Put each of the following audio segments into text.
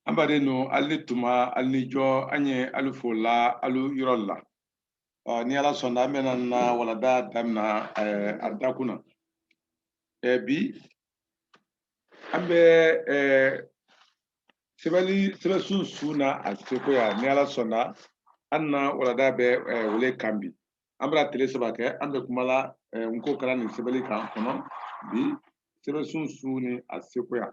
an baden nu alu ni tuma alu ni jɔ an ye alu fo la alu yɔrɔ la ni ala sɔnna an bɛna na walada damina a dakun na bi an bɛ sɛbɛli sɛbɛnsun su na a sekoya ni ala sɔnna an na walada bɛ o le kan bi an bara tile saba kɛ an bɛ kuma la n ko karan ni sɛbɛli kan kɔnɔ bi sɛbɛnsun su ni a sekoya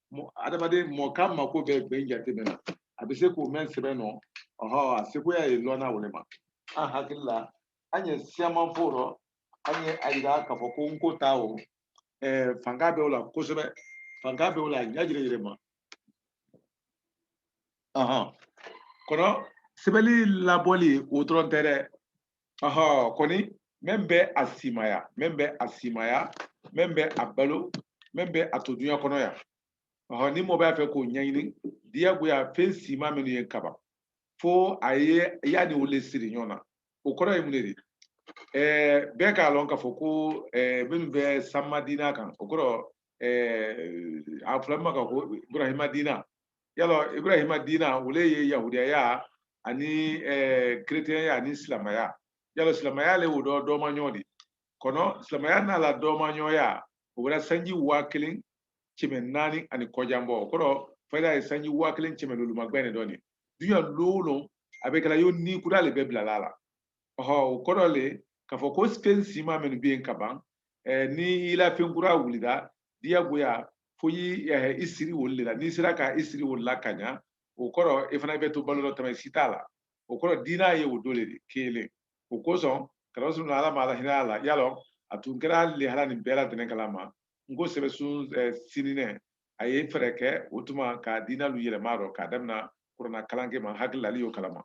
adamaden mɔɔ kan mako bɛ gbɛn jate mɛn na a bɛ se k'o mɛn sɛbɛn nɔ ɔhɔ a sekoya ye lɔnna o le ma an hakili la an ye siyaman fɔ rɔ an ye a yira k'a fɔ ko n ko ta o fanga bɛ o la kosɛbɛ fanga bɛ o la ɲa jɛrɛ jɛrɛ ma kɔnɔ sɛbɛli labɔli o dɔrɔn tɛ dɛ ɔhɔ kɔni min bɛ a simaya min bɛ a simaya min bɛ a balo min bɛ a to duɲa kɔnɔ yan ɔhɔ ni mɔɔ b'a fɛ k'o ɲaɲini diyagoya fɛn sima minnu yen ka ban fo a ye a ni o le siri ɲɔɔn na o kɔrɔ ye mun ne di ɛɛ bɛɛ k'a lɔn k'a fɔ ko ɛɛ minnu bɛ sanma dina kan o kɔrɔ ɛɛ a fɔla ma ka ko ibrahima dina y'a lɔn ibrahima diina o le ye yahudiyaya ani keretɛnya ani silamaya y'a lɔn silamaya le o dɔ dɔmaɲɔ di kɔnɔ silamaya n'a la dɔmaɲɔya o bara sanji waa kelen kɛmɛ naani ani kɔjan bɔ o kɔrɔ fayida ye sanji waa kelen kɛmɛ lolu magbɛn ne dɔ nin duɲa lon o lon a bɛ kɛla yo ni kura le bɛ bilala a la ɔhɔ o kɔrɔ le k'a fɔ ko fɛn sima minnu bɛ yen ka ban ni i la fɛn kura wulida diyagoya fo y'i eh, i siri olu la n'i sera ka i siri olu la ka ɲa o kɔrɔ i fana bɛ to balo dɔ tamasi t'a la o kɔrɔ diina ye o dɔ le kelen o kosɔn kɛra sunna ala ma ala hina a la y'a lɔn a tun kɛra lehara nin bɛɛ la tɛnɛ kalama n ko sɛbɛsun eh, sininɛ a ye fɛɛrɛ kɛ o tuma ka diina lu yɛlɛma rɔ k'a damina kurana kalanke ma hakili la alu y'o kalama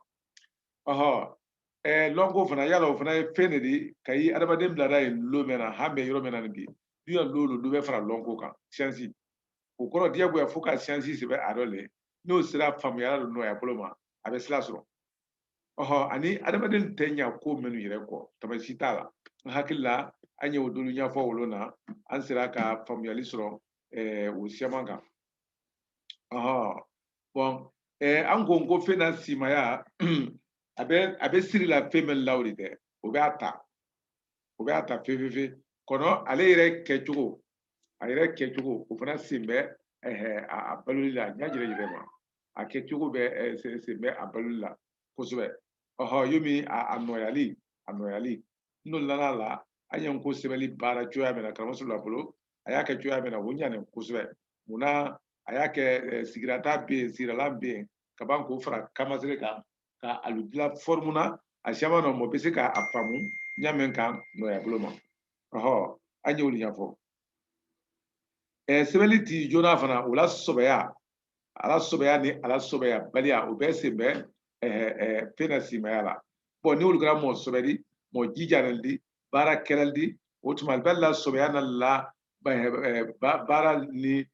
ɔhɔ eh, lɔnko fana y'a lɔn o fana ye fɛn ne di kayi adamaden bilada yen lon mɛn na han bɛ yɔrɔ mɛn na nin bi duɲa lon o lon dɔ bɛ fara lɔnko kan siyansi o kɔrɔ diyagoya fo ka siyansi sɛbɛn a dɔ le n'o sera faamuyala nɔɔya bolo ma a bɛ sila sɔrɔ ɔhɔ ani adamaden tɛ ɲa ko minnu yɛrɛ kɔ tamasi t'a la n hakili la an ye o dɔ lu ɲafɔ wolo na an sera ka faamuyali sɔrɔ eh, o siyaman kan ɔhɔ bɔn eh, an ko ko fɛn na simaya a bɛ a bɛ siri la fɛn min la o de tɛ o bɛ a ta o bɛ a ta fefefe kɔnɔ ale yɛrɛ kɛcogo a yɛrɛ kɛcogo o fana sen bɛ a baloli la ɲa jɛrɛ yɛrɛ ma a kɛcogo bɛ sen bɛ a baloli la kosɛbɛ ɔhɔ yomi a nɔyali a nɔyali n donna a la an ye nko sɛbɛli baara cogoya min na karamɔgɔ la bolo a y'a kɛ cogoya min na o ɲanen kosɛbɛ munna a y'a kɛ sigirata bɛ yen sigirala bɛ yen ka ban k'o fara kanmasere kan ka alu dilan fɔrimu na a caman na mɔgɔ bɛ se k'a faamu ɲa mɛn kan nɔgɔya bolo ma ɔhɔ an y'olu ɲafɔ sɛbɛli ti joona fana o la sɔbɛya a la sɔbɛya ni a la sɔbɛya baliya o bɛɛ sen bɛ fɛn na simaya la bɔn n'olu kɛra mɔgɔ sɔbɛ di mɔgɔ jijalen di baarakɛlalu di o tuma alu bɛ alu la sɔbɛya n'alu la baara ni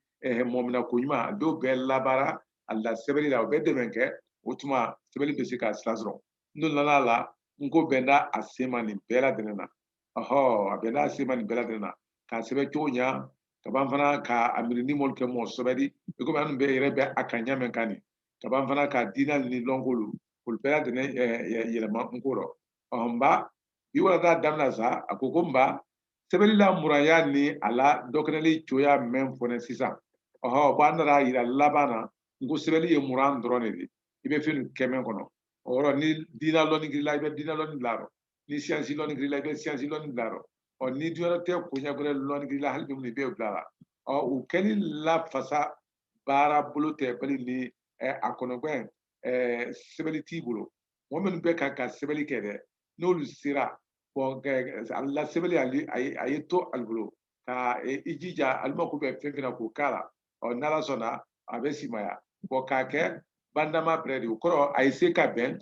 mɔmina ko ɲuman alu d'o bɛɛ labaara alu la sɛbɛli la o bɛ dɛmɛ kɛ o tuma sɛbɛli bɛ se ka sira sɔrɔ n donna la nko bɛn da a se ma nin bɛɛ ladɛnnen na ɔhɔ a bɛn da a se ma nin bɛɛ ladɛnnen na k'a sɛbɛn cogo ɲa ka ban fana ka a miiri ni mɔlu kɛ mɔgɔ sɔbɛ di i komi an bɛɛ yɛrɛ bɛ a kan ɲa mɛn kan nin ka ban fana ka diinalu ni lɔnkolu kolu bɛɛ ladɛnnen yɛlɛma nko rɔ ɔhɔn nba bi walanda damina sa a ko ko nba sɛbɛli la muranya ni a la dɔkɛnɛli cogoya mɛn fɔnɛn sisan ɔhɔ bɔn an nana yira laban na nko sɛbɛli ye muran dɔrɔn ne di i bɛ fɛn kɛ mɛn kɔnɔ o yɔrɔ ni diina lɔnni kɛr'i la i bɛ diina lɔnni bila a rɔ ni siyansi lɔnni kɛr'i la i bɛ siyansi lɔnni bila a rɔ ɔ ni duɲarɔtɛ koɲa wɛrɛ lɔnni kɛr'i la hali bi minnu i bɛ bila la ɔ o kɛli la fasa baara bolo tɛ bali ni a kɔnɔgɛn sɛbɛli t'i bolo mɔgɔ minnu bɛ ka ka sɛbɛli kɛ dɛ n'olu sera a la sɛbɛli a ye to alu bolo ka e, i jija alu mako bɛ fɛn fɛn na k'o k'a la ɔ n'ala sɔnna a bɛ simaya bɔn k'a kɛ bandama bɛrɛ di o kɔrɔ a ye se ka bɛn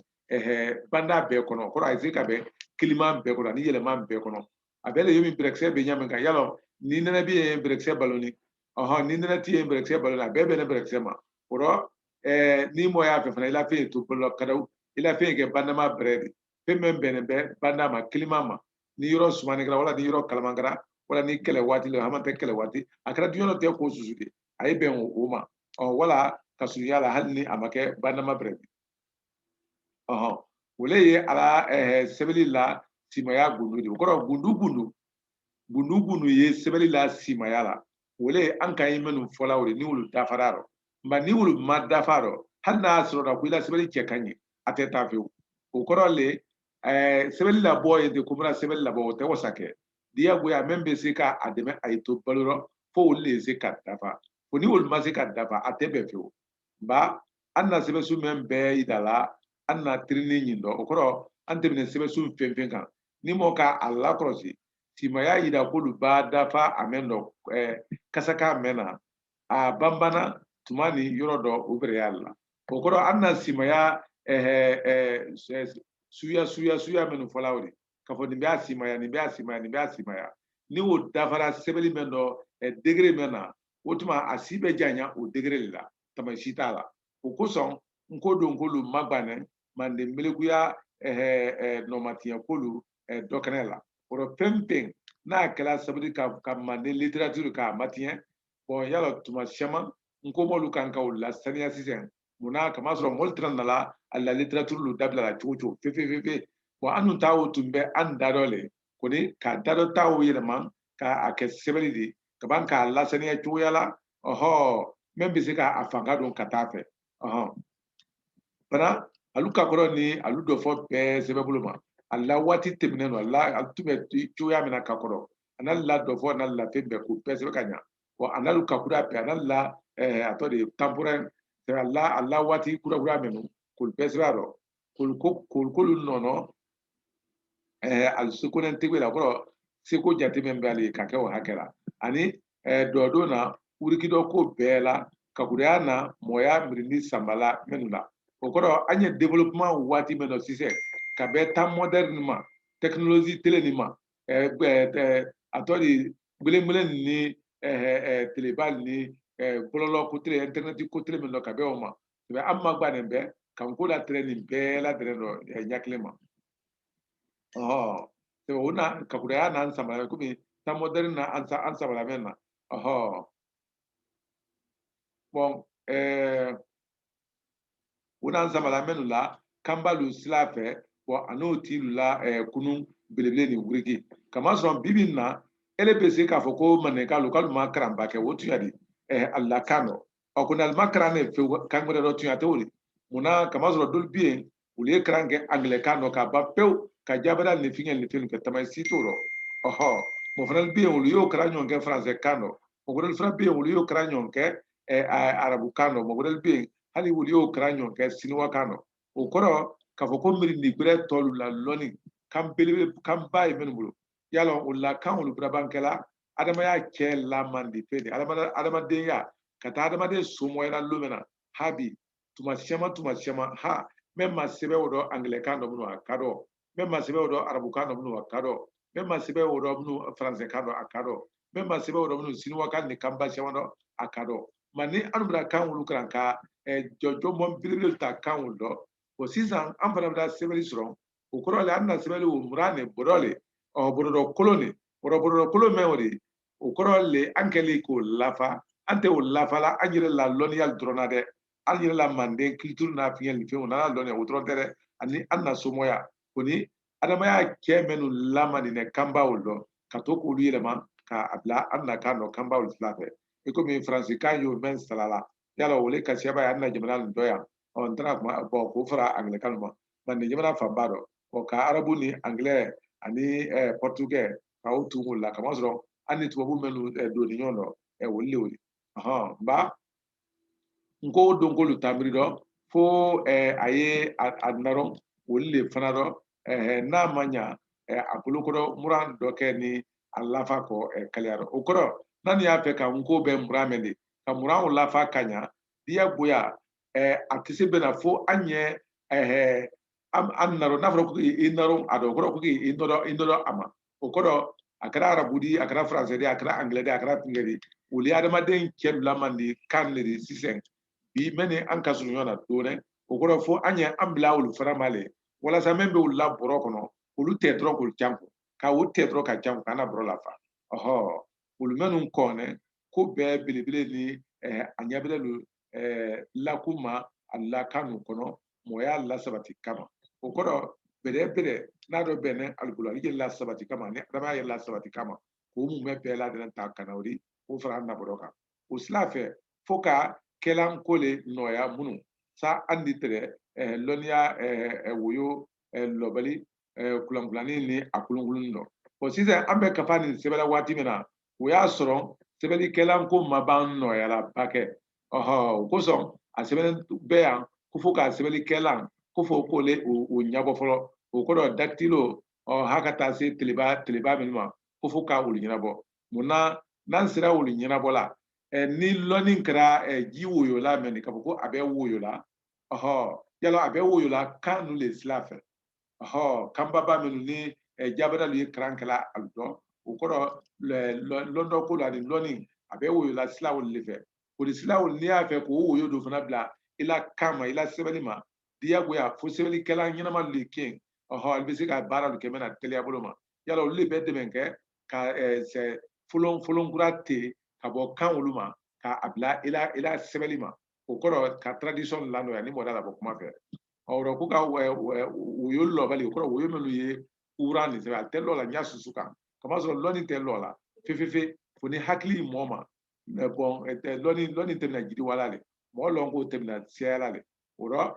banda bɛɛ kɔnɔ o kɔrɔ a ye se ka bɛn kiliman bɛɛ kɔnɔ ani yɛlɛman bɛɛ kɔnɔ a bɛɛ le yomi bɛrɛkisɛ bɛ ɲa min kan yala ni nɛnɛ bɛ yen bɛrɛkisɛ baloni ɔhɔn ni nɛnɛ tɛ yen bɛrɛkisɛ baloni a bɛɛ bɛnnen bɛrɛkisɛ ma o kɔrɔ eh, ni mɔgɔ y'a fɛ fana i la fɛn ye to bolo la kadaw i la fɛn ye kɛ bandama bɛrɛ di fɛn min bɛnnen bɛ banda ma kilima ma ni yɔrɔ sumani kɛra wala ni yɔrɔ kalaman kɛra wala ni kɛlɛ waati la hamantɛ kɛlɛ waati a kɛra duɲarɔtɛ ko susu di a ye bɛn o ma ɔ wala ka surunya la hali ni a ma kɛ bandama bɛrɛ di ɔhɔn o le ye a la eh, sɛbɛli la simaya gundu di o kɔrɔ gundu gundu gundu gundu ye sɛbɛli la simaya la o le an ka ye minnu fɔla o de ni olu dafara rɔ nba ni olu ma dafa rɔ hali n'a sɔrɔ la ko i la sɛbɛnni cɛ ka ɲi a tɛ taa fewu o kɔrɔ le ɛɛ sɛbɛnni labɔ ye de ko bɛna sɛbɛnni labɔ o tɛ wasa kɛ diyagoya mɛn bɛ se ka a dɛmɛ a ye to balo rɔ fo olu de se ka dafa o ni olu ma se ka dafa a tɛ bɛn fewu nba an na sɛbɛnsu mɛn bɛɛ yida la an na tirini ɲin dɔ o kɔrɔ an tɛmɛna sɛbɛnsu fɛn fɛn kan ni mɔgɔ ka a lakɔlɔsi simaya yira k'olu b'a dafa a mɛn dɔ kasaka mɛn na a banbana tuma ni yɔrɔ dɔ o bɛrɛya la o kɔrɔ an na simaya suya suya suya minnu fɔla o de k'a fɔ nin bɛ a simaya nin bɛ a simaya nin bɛ a simaya ni o dafara sɛbɛnni mɛn dɔ degré mɛn na o tuma a si bɛ janya o degré de la tama si t'a la o kosɔn n ko don k'olu magbanɛ manden melekuya nɔmatiɲɛ kolu dɔ kɛnɛ la o rɔ fɛn fɛn n'a kɛra sabu di ka manden littérature k'a matiɲɛ bɔn y'a lɔn tuma siyaman n ko mɔlu kan ka o lasaniya sisan mun na kamasɔrɔ mɔlu tɛna nala a la littérature lu dabila la cogo cogo fefefefe bɔn annu ta o tun bɛ an da dɔ le kɔni ka da dɔ ta o yɛlɛma ka a kɛ sɛbɛnni di ka ban k'a lasaniya cogoya la ɔhɔ min bɛ se ka a fanga don ka taa fɛ fana alu kakɔrɔ ni alu dɔfɔ bɛɛ sɛbɛn bolo ma a la waati tɛmɛnennu a la alu tun bɛ cogoya min na kakɔrɔ a n'a la dɔfɔ a n'a la fɛn bɛɛ k'o bɛɛ sɛbɛn ka ɲa wa a n'alu kakura bɛɛ a n'a la a tɔ de ye temporaire a la a la waati kura kura minnu k'olu bɛɛ sɛbɛn a rɔ k'olu k'olu nɔnɔ alu seko ni tɛgɛ la o kɔrɔ seko jate min bɛ alu ka kɛ o hakɛ la ani dɔ don na wuriki dɔ k'o bɛɛ la kakuruya na mɔgɔya mirindi sanbala minnu la o kɔrɔ an ye développement waati min dɔ sisan ka bɛn temps moderne ma technologie tele nin ma a tɔ de gbelengbele ni teleba ni bɔlɔlɔ ko tele internet ko tele min dɔ ka bɛn o ma i bɛ an magbanin bɛ ka n ko la tɛrɛ nin bɛɛ la tɛrɛ dɔ ɲa kelen ma ɔhɔ o na kakuraya n'an sanbala komi temps moderne na an sanbala mɛn na ɔhɔ bɔn ɛɛ o n'an sanbala mɛnnu la kanbalu sira fɛ bɔn a n'o tiilu la ɛɛ kunun belebele ni wuriki kamasɔrɔ bibi in na ele bɛ se k'a fɔ ko mandenkalu k'alu ma karanba kɛ o tuɲa di ɛɛ alu la kan dɔ ɔ ko n'alu ma karan ne fewu kan wɛrɛ dɔ tuɲa tɛ o di mun na kamasɔrɔ dolu bɛ yen olu ye karan kɛ angilɛkan dɔ k'a ban pewu ka jabɛda ni fiɲɛ ni fɛn kɛ tama si t'o rɔ ɔhɔ mɔgɔ fana bɛ yen olu y'o karan ɲɔgɔn kɛ faransɛ kan dɔ mɔgɔ wɛrɛ fana bɛ yen olu y'o karan ɲɔgɔn kɛ arabu kan dɔ mɔgɔ wɛrɛ bɛ yen hali olu y'o karan ɲɔgɔn kɛ siniwa kan dɔ o kɔrɔ k'a fɔ ko mirindi gbɛrɛ tɔlu la lɔni kan belebele kan ba ye minnu bolo yala o la kan olu birabankɛla adamadenya cɛ lamandi fɛ de adamadenya ka taa adamaden somɔyala lon min na habi tuma caman tuma caman ha mɛ ma sɛbɛn o dɔn angilɛkan dɔ minnu a ka dɔn mɛ ma sɛbɛn o dɔn arabukan dɔ minnu a ka dɔn mɛ ma sɛbɛn o dɔn minnu faransɛkan dɔ a ka dɔn mɛ ma sɛbɛn o dɔn minnu siniwakan ni kanba caman dɔ a ka dɔn ma ni an bɛna kan olu kalan ka jɔjɔnbɔn belebele ta kan olu dɔ o sisan an fana bɛ taa sɛbɛnni sɔrɔ o kɔrɔ le an na sɛbɛli o muran ne bɔrɔ le ɔ bɔrɔdɔ kolon ne bɔrɔ bɔrɔdɔ kolon mɛn o de o kɔrɔ le an kɛla k'o lafa an tɛ o lafa la an yɛrɛ la lɔnniya dɔrɔn na dɛ an yɛrɛ la manden culture n'a fiɲɛ ni fɛnw n'an lɔnniya o dɔrɔn tɛ dɛ ani an na somɔya ko ni adamadenya cɛ minnu lama nin dɛ kanba olu dɔ ka to k'olu yɛlɛma k'a bila an na kan dɔ kanba olu sila fɛ i komi faransikan y'o mɛn salala yala o le ka siya ba ye an na jamana nin dɔ yan ɔ n tɛna kuma bɔn k'o fara angilɛkan ma manden jamana fanba dɔ ɔ ka arabu ni angilɛ ani pɔrtugɛ ka o tugu o la kamasɔrɔ an ni tubabu mɛnu donni ɲɔgɔn dɔ ɛ olu le olu ɔhɔn nba nko don ko olu tamiri dɔ fo a ye a narɔ olu le fana dɔ eh, n'a ma ɲa eh, a bolokɔrɔ muran dɔ kɛ ni a lafa kɔ eh, kaliya rɔ o kɔrɔ n'an y'a fɛ ka nko bɛ muran mɛn di ka muran o lafa ka ɲa diyagoya eh, a tɛ se bɛn na fo an ye eh, an an narɔ n'a fɔra ko i narɔ a dɔ o kɔrɔ ko k'i nɔrɔ i nɔrɔ a ma o kɔrɔ a kɛra arabu di a kɛra faransɛ di a kɛra angilɛ di a kɛra tigɛ di olu ye adamaden cɛ lamandi kan de di sisan bi mɛ ni an ka surun ɲɔgɔn na dɔɔnin o kɔrɔ fo an ye an bila olu fana ma le walasa min bɛ olu la bɔrɔ kɔnɔ olu tɛ dɔrɔn k'olu jan kun ka o tɛ dɔrɔn ka jan kun k'an na bɔrɔ lafa ɔhɔ olu mɛnnu kɔni ko bɛɛ belebele ni eh, a ɲabɛrɛlu eh, lakuma a la kan ninnu kɔnɔ mɔgɔya lasabati kama o kɔrɔ bɛrɛ bɛrɛ n'a dɔ bɛnɛ alikolo ale ye lasabati kama ni adamadenya ye lasabati kama k'o mun bɛ bɛɛ ladɛnɛ ta ka na o di k'o fara an na bɔrɔ kan o sila fɛ fo ka kɛlan ko le nɔgɔya minnu sa an di tɛrɛ eh, lɔnniya eh, eh, woyo lɔbali kulankulanni ni a kolonkolonni dɔ bɔn sisan an bɛ kafa nin sɛbɛla waati min na o y'a sɔrɔ sɛbɛlikɛlan ko ma ban nɔgɔya la ba kɛ ɔhɔ o kosɔn a sɛbɛnnen bɛ yan ko fo ka sɛbɛlikɛlan ko fo k'o le o ɲabɔ fɔlɔ o kɔrɔ dakitilo ɔ ha ka taa se teleba teleba minnu ma ko fo ka olu ɲɛnabɔ mun na n'an sera olu ɲɛnabɔ la ni lɔnni kɛra ji woyola mɛ nin k'a fɔ ko a bɛ woyola ɔhɔ yala a bɛ woyola kan ninnu de sira fɛ ɔhɔ kanbaba minnu ni jabadalu ye kalan kɛla a dɔ o kɔrɔ lɔndɔ ko la ni lɔnni a bɛ woyola siraw de fɛ o de siraw n'i y'a fɛ k'o woyo dɔ fana bila i la kan ma i la sɛbɛnni ma diyagoya fo sɛbɛnnikɛlan ɲɛnama de kɛ yen ɔhɔ i bɛ se ka baara de kɛ mɛn na teliya bolo ma yala olu de bɛ dɛmɛ kɛ ka folon folon kura te ka bɔ kan olu ma ka a bila ila ila sɛbɛnni ma o kɔrɔ ka tradition lanɔya ni mɔgɔ da la bɔ kuma fɛ ɔrɔ ko ka woyo lɔbali o kɔrɔ woyo minnu ye kuran nin sɛbɛn a tɛ lɔ la n y'a susu kan kamasɔrɔ lɔni tɛ lɔ la fefefe fo ni hakili mɔɔ ma bɔn lɔni lɔni tɛmɛna jiriwa la le mɔgɔ lɔn k'o tɛmɛna siyala le o rɔ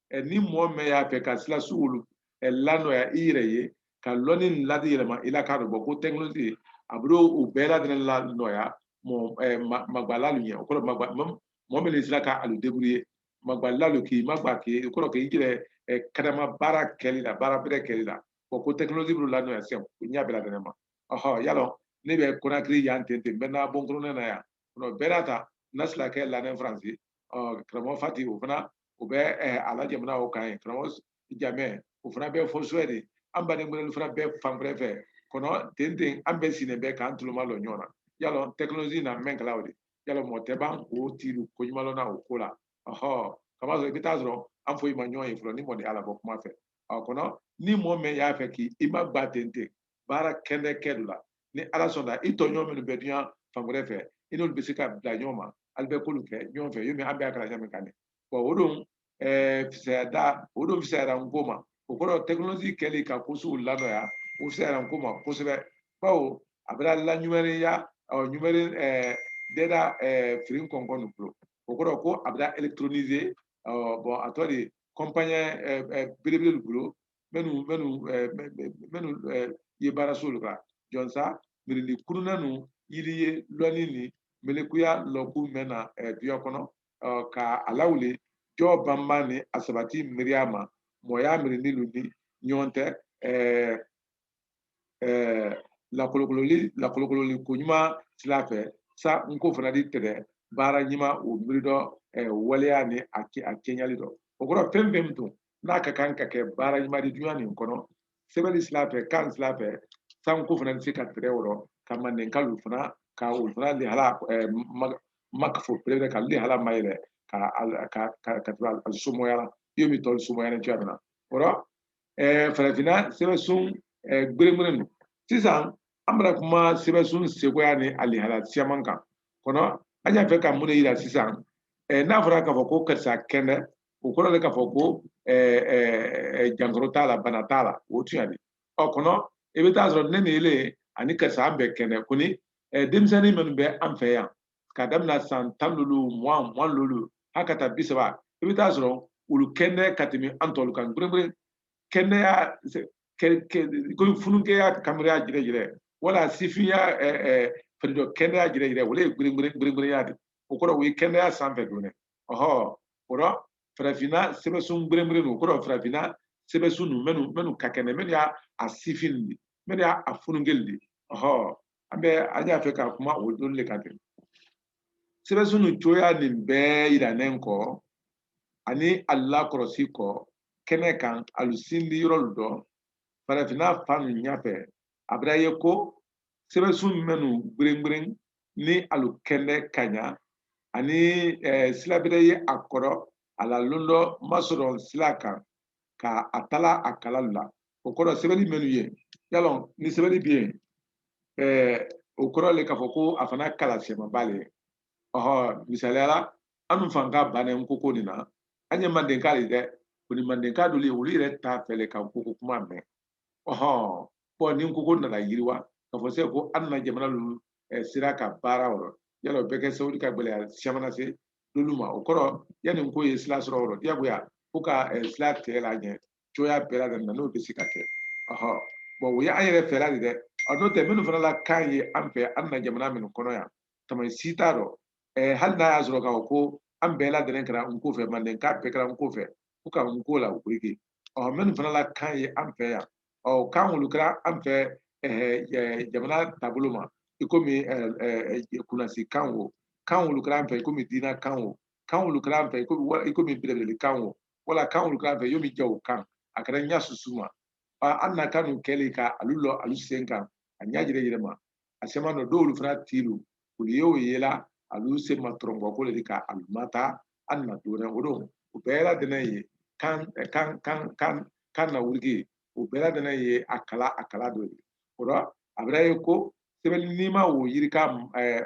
ni mɔgɔ mɛn y'a fɛ ka sila sugu olu lanɔya i yɛrɛ ye ka lɔni ladi yɛlɛma i la k'a dɔn bɔ ko tɛkinoloji a bɛ o bɛɛ ladɛnɛ lanɔya magbala lu ɲɛ o kɔrɔ magba mɔgɔ min sera ka alu débrouiller magbala lu k'i magba k'i kɔrɔ k'i yɛrɛ kadama baara kɛli la baara bɛrɛ kɛli la bɔ ko tɛkinoloji bɛ lanɔya sisan o ɲɛ bɛɛ ladɛnɛ ma ɔhɔ yalɔ ne bɛ konakiri yan ten ten n bɛ n'a bɔnkɔrɔnɛ na yan bɛɛ n'a ta nasila kɛ lanɛ faransi karamɔgɔ fati o fana o bɛ a la jamana o kan yen karamɔgɔ jamɛ o fana bɛ fo suwɛdi an baden kelen fana bɛ fan wɛrɛ fɛ kɔnɔ ten ten an bɛɛ sinnen bɛ k'an tulomalɔ ɲɔgɔn na yala tɛkinoloji na mɛn kala o de yala mɔgɔ tɛ ban k'o tiri ko ɲuman na o ko la ɔhɔ kamasɔrɔ i bɛ taa sɔrɔ an foyi ma ɲɔgɔn ye fɔlɔ ni mɔni ala bɔ kuma fɛ a kɔnɔ ni mɔgɔ mɛn y'a fɛ k'i i magba ten ten baara kɛnɛ kɛ dɔ la ni ala sɔnna i tɔɲɔgɔn minnu bɛ dunya fan wɛrɛ fɛ i n'olu bɛ se ka bila ɲɔgɔn ma alu bɛ ko lu kɛ ɲɔgɔn fɛ yomi an bɛɛ kalan ɲɔgɔn kan de bɔn o don fisaya da o don fisayara nko ma o kɔrɔ tɛkinoloji kɛli ka kosow lanɔya o fisayara nko ma kosɛbɛ bawo a bɛna laɲumɛrɛnya ɔ ɲumɛrɛ dɛda firi kɔnkɔn nin bolo o kɔrɔ ko a bɛna elekitronise bɔn a tɔ de kɔnpanyi belebele bolo minnu minnu minnu ye baara so olu kan jɔnsa mirindi kurunna ninnu yiri ye lɔni ni melekuya lɔku mɛn na duya kɔnɔ ka a lawuli jɔ banba ni a sabati miiriya ma mɔgɔya mirindi lu ni ɲɔgɔn tɛ lakolokololi lakolokololi ko ɲuman sira fɛ sa nko fana di tɛdɛ baara ɲuman o miiri dɔ waleya ni a kɛɲɛli dɔ o kɔrɔ fɛn fɛn min tun n'a ka kan ka kɛ baara ɲuman di dunya nin kɔnɔ sɛbɛnni sira fɛ kan sira fɛ sa nko fana bɛ se ka tɛrɛ o rɔ ka mandenkalu fana ka olu fana lihala makafo pere ka lihala ma yɛrɛ ka ka ka ka tura somɔya la iyomi tɔli somɔya ni cogoya min na o la farafinna sɛbɛnsun gbɛrɛgbɛrɛ ninnu sisan an bɛna kuma sɛbɛnsun cogoya ni a lihala siyaman kan kɔnɔ an y'a fɛ ka mun de yira sisan n'a fɔra k'a fɔ ko karisa kɛnɛ o kɔrɔ de k'a fɔ ko jankaro t'a la bana t'a la o tuɲa de ɔ kɔnɔ i bɛ taa sɔrɔ ne ni ele ani karisa an bɛɛ kɛnɛ kɔni denmisɛnnin minnu bɛ an fɛ yan ka daminɛ san tan lolu mugan mugan lolu hali ka taa bi saba i bɛ taa sɔrɔ olu kɛnɛ ka tɛmɛ an tɔlu kan gberengberen kɛnɛya komi fununkɛya kanberenya jɛrɛjɛrɛ wala sifinya fari dɔ kɛnɛya jɛrɛjɛrɛ o de ye gberengberenya de o kɔrɔ o ye kɛnɛya sanfɛ don dɛ ɔhɔ kɔrɔ farafinna sɛbɛsun gberengberen nu kɔrɔ farafinna sɛbɛsun ninnu minnu minnu ka kɛnɛ minnu y'a a sifin de minnu y'a a fununkɛ lu de ɔhɔ an bɛ an y'a fɛ ka kuma o don de kan ten sɛbɛsun ninnu cogoya nin bɛɛ yirannen kɔ ani a lakɔlɔsi kɔ kɛnɛ kan alu sindi yɔrɔ lu dɔ farafinna fan ninnu ɲafɛ a bɛra ye ko sɛbɛsun minnu gberengberen ni alu kɛnɛ ka ɲa ani eh, sila bɛrɛ ye a kɔrɔ a la londɔ masɔrɔ sila kan ka a tala a kala lu la o kɔrɔ sɛbɛnni minnu ye y'a lɔn ni sɛbɛnni bɛ yen eh, o kɔrɔ le k'a fɔ ko a fana kala siyamanba le ye ɔhɔ misaliya la an nu fan ka bannen n ko ko nin na an ye mandenka de dɛ kɔni mandenka dolu olu yɛrɛ t'a fɛ le ka n ko ko kuma mɛn ɔhɔn ni n ko ko nana yiriwa ka fɔ se ko an na jamana ninnu eh, sira ka baara o rɔ yala o bɛ kɛ sababu ka gɛlɛya caman lase n'olu ma o kɔrɔ yanni n ko ye sira sɔrɔ o rɔ diyagoya fo ka eh, sira tigɛ la ɲɛ cogoya bɛɛ la ka na n'o bɛ se ka kɛ ɔhɔn bɔn o ye an yɛrɛ fɛɛrɛ de dɛ a n'o tɛ minnu fana la kan ye an fɛ an na jamana minnu kɔnɔ yan tana si t'a dɔ eh, hali n'a y'a sɔrɔ k'a fɔ ko an bɛɛ ladɛnnɛn kɛra n ko fɛ mandenka bɛɛ kɛra n ko fɛ ko ka n ko la o koyi ke ɔ minnu fana la kan ye an fɛ yan ɔ kan olu kɛra an fɛ jamana taabolo ma i komi kunnasi kan o kan olu kɛra an fɛ i komi diina kan o kan olu kɛra an fɛ i komi belebele kan o wala kan olu kɛra an fɛ yomi jago kan a kɛra ɲa susu ma an na kan ninnu kɛlen ka alu lɔ alu sen kan a ɲa yɛrɛ yɛrɛ ma a siyaman dɔ dolu fana tilu olu ye o ye la alu se ma tɔrɔnbɔ ko le di ka alu ma taa an na dona o don o bɛɛ ladɛnnɛn ye kan kan kan kan kan na wuligi o bɛɛ ladɛnnɛn ye a kala a kala dɔ ye o rɔ a bɛra ye ko sɛbɛnni nima o yirika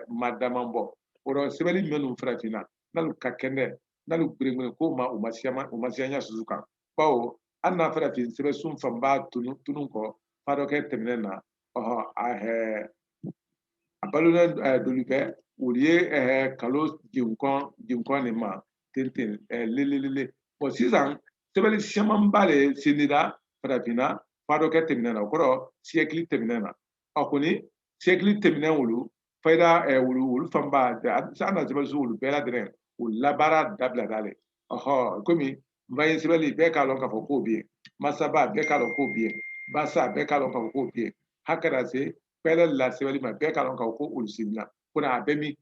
ma dama bɔ o rɔ sɛbɛnni minnu farafinna n'alu ka kɛnɛ n'alu gberengberen ko ma o ma siya o ma siya ɲa susu kan bawo an na farafin sɛbɛsun fanba tunu tunu kɔ fadɔkɛ tɛmɛnen na ɔhɔ a hɛ a balolen ɛɛ dolu bɛ olu ye ɛɛ kalo jenkɔn jenkɔn nin ma ten ten ɛɛ lelelele bɔn sisan sɛbɛnni camanba de sindira farafinna fadɔkɛ tɛmɛnen na o kɔrɔ siyɛkili tɛmɛnen na a kɔni siyɛkili tɛmɛnen olu fayida olu fanba an na sɛbɛnsun olu bɛɛ lajɛlen o labaara dabila dalen ɔhɔ komi nbaye sɛbɛnli bɛɛ k'a lɔn k'a fɔ k'o bɛ yen masaba bɛɛ k'a lɔn k'o bɛ yen basa bɛɛ k'a lɔn k'a fɔ k'o bɛ yen hakɛra se pɛlɛ la sɛbɛnli ma bɛɛ k'a lɔn k'a fɔ ko olu sinna ko na a bɛ min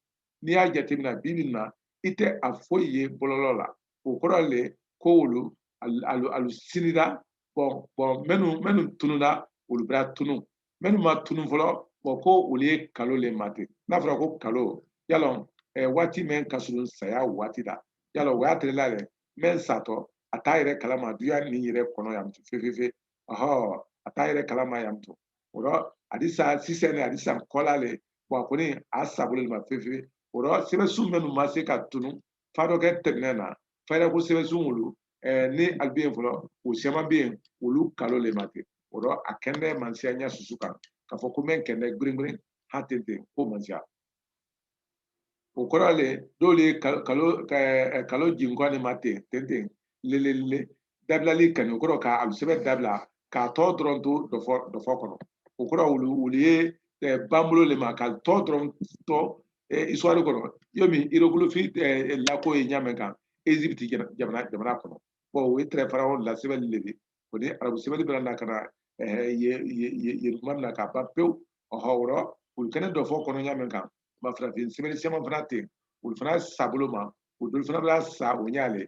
n'i y'a jateminɛ bi bi na i tɛ a foyi ye bɔlɔlɔ la o kɔrɔ le ko olu alu sinira bɔn bɔn minnu minnu tununna olu bɛra tunu minnu ma tunu fɔlɔ bɔn ko olu ye kalo le ma ten n'a fɔra ko kalo y'a lɔn eh, waati min ka surun saya waati la y'a lɔn o y'a terela le mɛn satɔ a t'a yɛrɛ kalama duya nin yɛrɛ kɔnɔ yan to fefefe ɔhɔ a t'a yɛrɛ kalama yan to o rɔ a di sa sisɛn ne a di sa kɔla le bɔn a kɔni a sabolo le ma fefefe o rɔ sɛbɛnsun minnu ma se ka tunu fadɔkɛ tɛmɛnen na fayida ko sɛbɛnsun olu ni alu bɛ yen fɔlɔ o siyaman bɛ yen olu kalo le ma ten o rɔ a kɛnɛ mansiya y'a susu kan k'a fɔ ko n bɛ n kɛnɛ gbiringbirin ha ten ten ko mansiya o kɔrɔ le dɔlu ye kalo jinkɔ ne ma ten ten ten lelelele dabilali kani o kɔrɔ ka alu sɛbɛn dabila k'a tɔ dɔrɔn to dɔfɔ kɔnɔ o kɔrɔ olu ye banbolo le ma k'a tɔ dɔrɔn to isituwari kɔnɔ yomin irogolofi lako ye ɲa mɛn kan ezipiti jamana kɔnɔ bɔn o ye tɛrɛ farawon la sɛbɛnli le ye o ni arabu sɛbɛnli bɛra na ka na ye tuma min na k'a ban pewu ɔhɔ o rɔ olu kɛnɛ dɔfɔ kɔnɔ ɲa mɛn kan ma farafin sɛbɛnni siyaman fana ten olu fana sabolo ma o dolu fana bɛra sa o ɲa le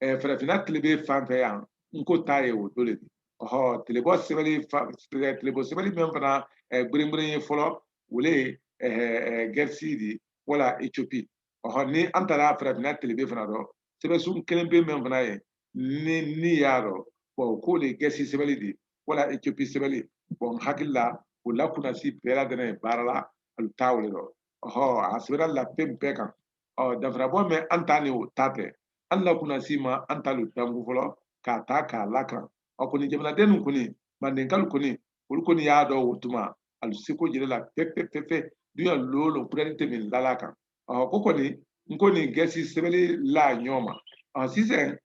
eh, farafinna tilebe fan fɛ yan n ko ta ye o do le di ɔhɔ tilebɔ sɛbɛnni tilebɔ sɛbɛnni min fana gberengberen ye fɔlɔ o le ye gɛrisi di wala etiopi ɔhɔ ni an taara farafinna tilebe fana dɔ sɛbɛnsun kelen pe min fana ye ni ni y'a dɔn bɔn k'o le ye gɛrisi sɛbɛnni di wala etiopi sɛbɛnni bɔn n hakili la o la kunnasi bɛɛ ladɛnnɛn ye baara la alu ta o le dɔ ɔhɔ a sɛbɛnna la fɛn bɛɛ kan ɔ danfarabɔ mɛn an ta ni o ta tɛ an na kunnasi ma an ta lu dankun fɔlɔ k'a ta k'a lakaran ɔ kɔni jamanaden ninnu kɔni mandenkalu kɔni olu kɔni y'a dɔ o tuma alu seko jɛrɛ la fefefefe duya lolo kurɛni tɛ min lala kan ɔ ko kɔni n ko ni gɛsi sɛbɛnni la ɲɔgɔn ma ɔ sisan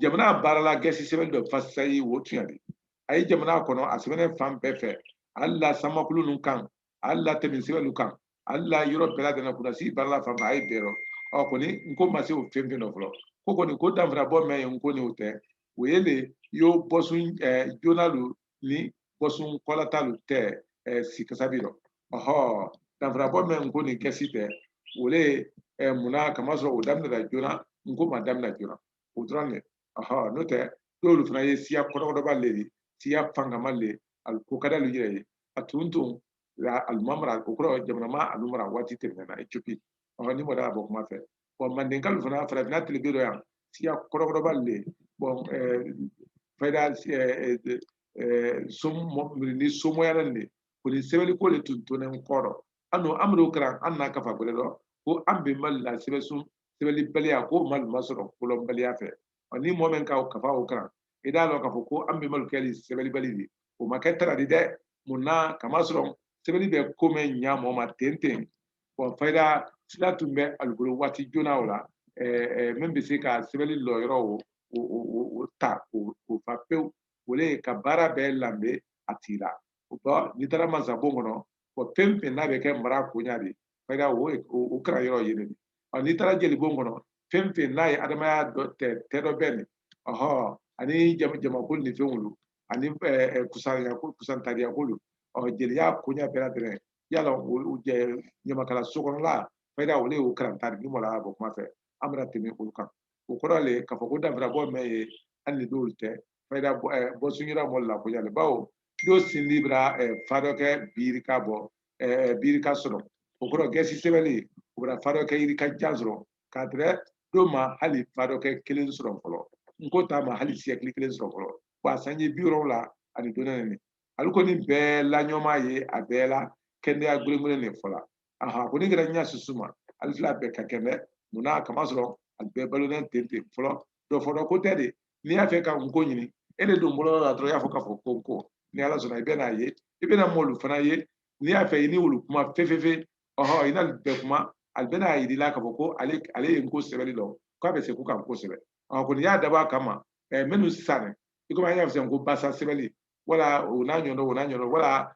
jamana baara la gɛsi sɛbɛnni dɔ fasayi o tuɲa di a ye jamana kɔnɔ a sɛbɛnnen fan bɛɛ fɛ hali la sanmakulun ninnu kan hali la tɛmɛsɛbɛn lu kan hali la yɔrɔ bɛɛ lajɛlen kunnasi baara la fanba a ye bɛɛ rɔ ɔ kɔni n ko ma se o fɛn fɛn dɔ fɔlɔ ko kɔni ko danfara bɔ mɛn ye n ko ni o tɛ o ye le yo bɔsun ɛɛ joona lu ni bɔsun kɔlata lu tɛ ɛɛ sikasa bi rɔ ɔhɔ danfara bɔ mɛn n ko ni gɛsi tɛ o le ɛɛ munna kamasɔrɔ o daminɛra joona n ko ma daminɛ joona o dɔrɔn de ɔhɔ n'o tɛ dɔlu fana ye siya kɔrɔkɔrɔba le ye siya fangama le a ko ka d'olu yɛrɛ ye a tun tun alu ma mara o kɔrɔ jamana ma alu mara waati tɛmɛna etiyopi ɔ ni mɔgɔ y'a bɔ kuma fɛ wa mandenkalu fana farafinna tilebe dɔ yan siya kɔrɔkɔrɔba le bɔn fayida ni somoyara le kɔni sɛbɛnni ko de tun tonnen kɔrɔ an n'o an bar'o karan an na kafa gbɛrɛ dɔ ko an bɛnbalu la sɛbɛn sɛbɛnnibaliya k'o mali ma sɔrɔ kolɔnbaliya fɛ ni mɔgɔ min ka kafa o karan i d'a dɔn k'a fɔ ko an bɛnbalu kɛli sɛbɛnnibali di o ma kɛ tara di dɛ mun na k'a masɔrɔ sɛbɛnni bɛ ko mɛn ɲa mɔgɔ ma ten ten bɔn fayida sira tun bɛ alu bolo waati joona o la min bɛ se ka sɛbɛnni lɔyɔrɔ o o ta o fa pewu o le ka baara bɛɛ lanbe a tigi la o bɔ n'i taara masabon kɔnɔ o fɛn fɛn n'a bɛ kɛ mara koɲa di fayida o karan yɔrɔ ye yen n'i taara jelibon kɔnɔ fɛn fɛn n'a ye adamadenya dɔ tɛ tɛdɔbɛnni ɔhɔn ani jamakulu ni fɛn olu ani kusantariya ko lu ɔ jeliya koɲa bɛɛ lajɛlen yala o ɲamakala so kɔnɔla fayida o le y'o karanta ni mɔla bɔ kuma fɛ an bɛna tɛmɛ olu kan o kɔrɔ le k'a fɔ ko danfarabɔ mɛn ye an ni dɔw tɛ fayida bɔsun yira mɔlu la koɲa le bawo dɔ sindi bara fadɔkɛ bi yirika bɔ bi yirika sɔrɔ o kɔrɔ gɛsi sɛbɛnni o bara fadɔkɛ yirika jan sɔrɔ k'a tɛrɛ dɔ ma hali fadɔkɛ kelen sɔrɔ fɔlɔ n ko ta ma hali siyɛkili kelen sɔrɔ fɔlɔ wa sanji bi wɔrɔnwula ani dɔɔnin alu kɔni bɛɛ laɲɔma ye a bɛɛ la kɛnɛya gulengulen de fɔla aha ko ni kɛra ɲa susu ma alu fila bɛɛ ka kɛnɛ munna k'a masɔrɔ a bɛɛ balolen ten ten fɔlɔ dɔ fɔlɔ ko tɛ de n'i y'a fɛ ka n ko ɲini e de don bɔlɔlɔ la dɔrɔn i y'a fɔ k'a fɔ ko n ko ni ala sɔnna i bɛna a ye i bɛna mɔlu fana ye n'i y'a fɛ i ni wolu kuma fefefe ɔhɔ i n'alu bɛ kuma alu bɛna a yir'i la k'a fɔ ko alu alu ye n ko sɛbɛnni la k'a bɛ se ko ka n ko sɛbɛn ɔ kɔni y'a dabɔ a kama ɛɛ minnu sisan i komi an y'a fɔ ko basa sɛbɛnni wala o n'a ɲɔgɔn o n'a ɲɔgɔn wala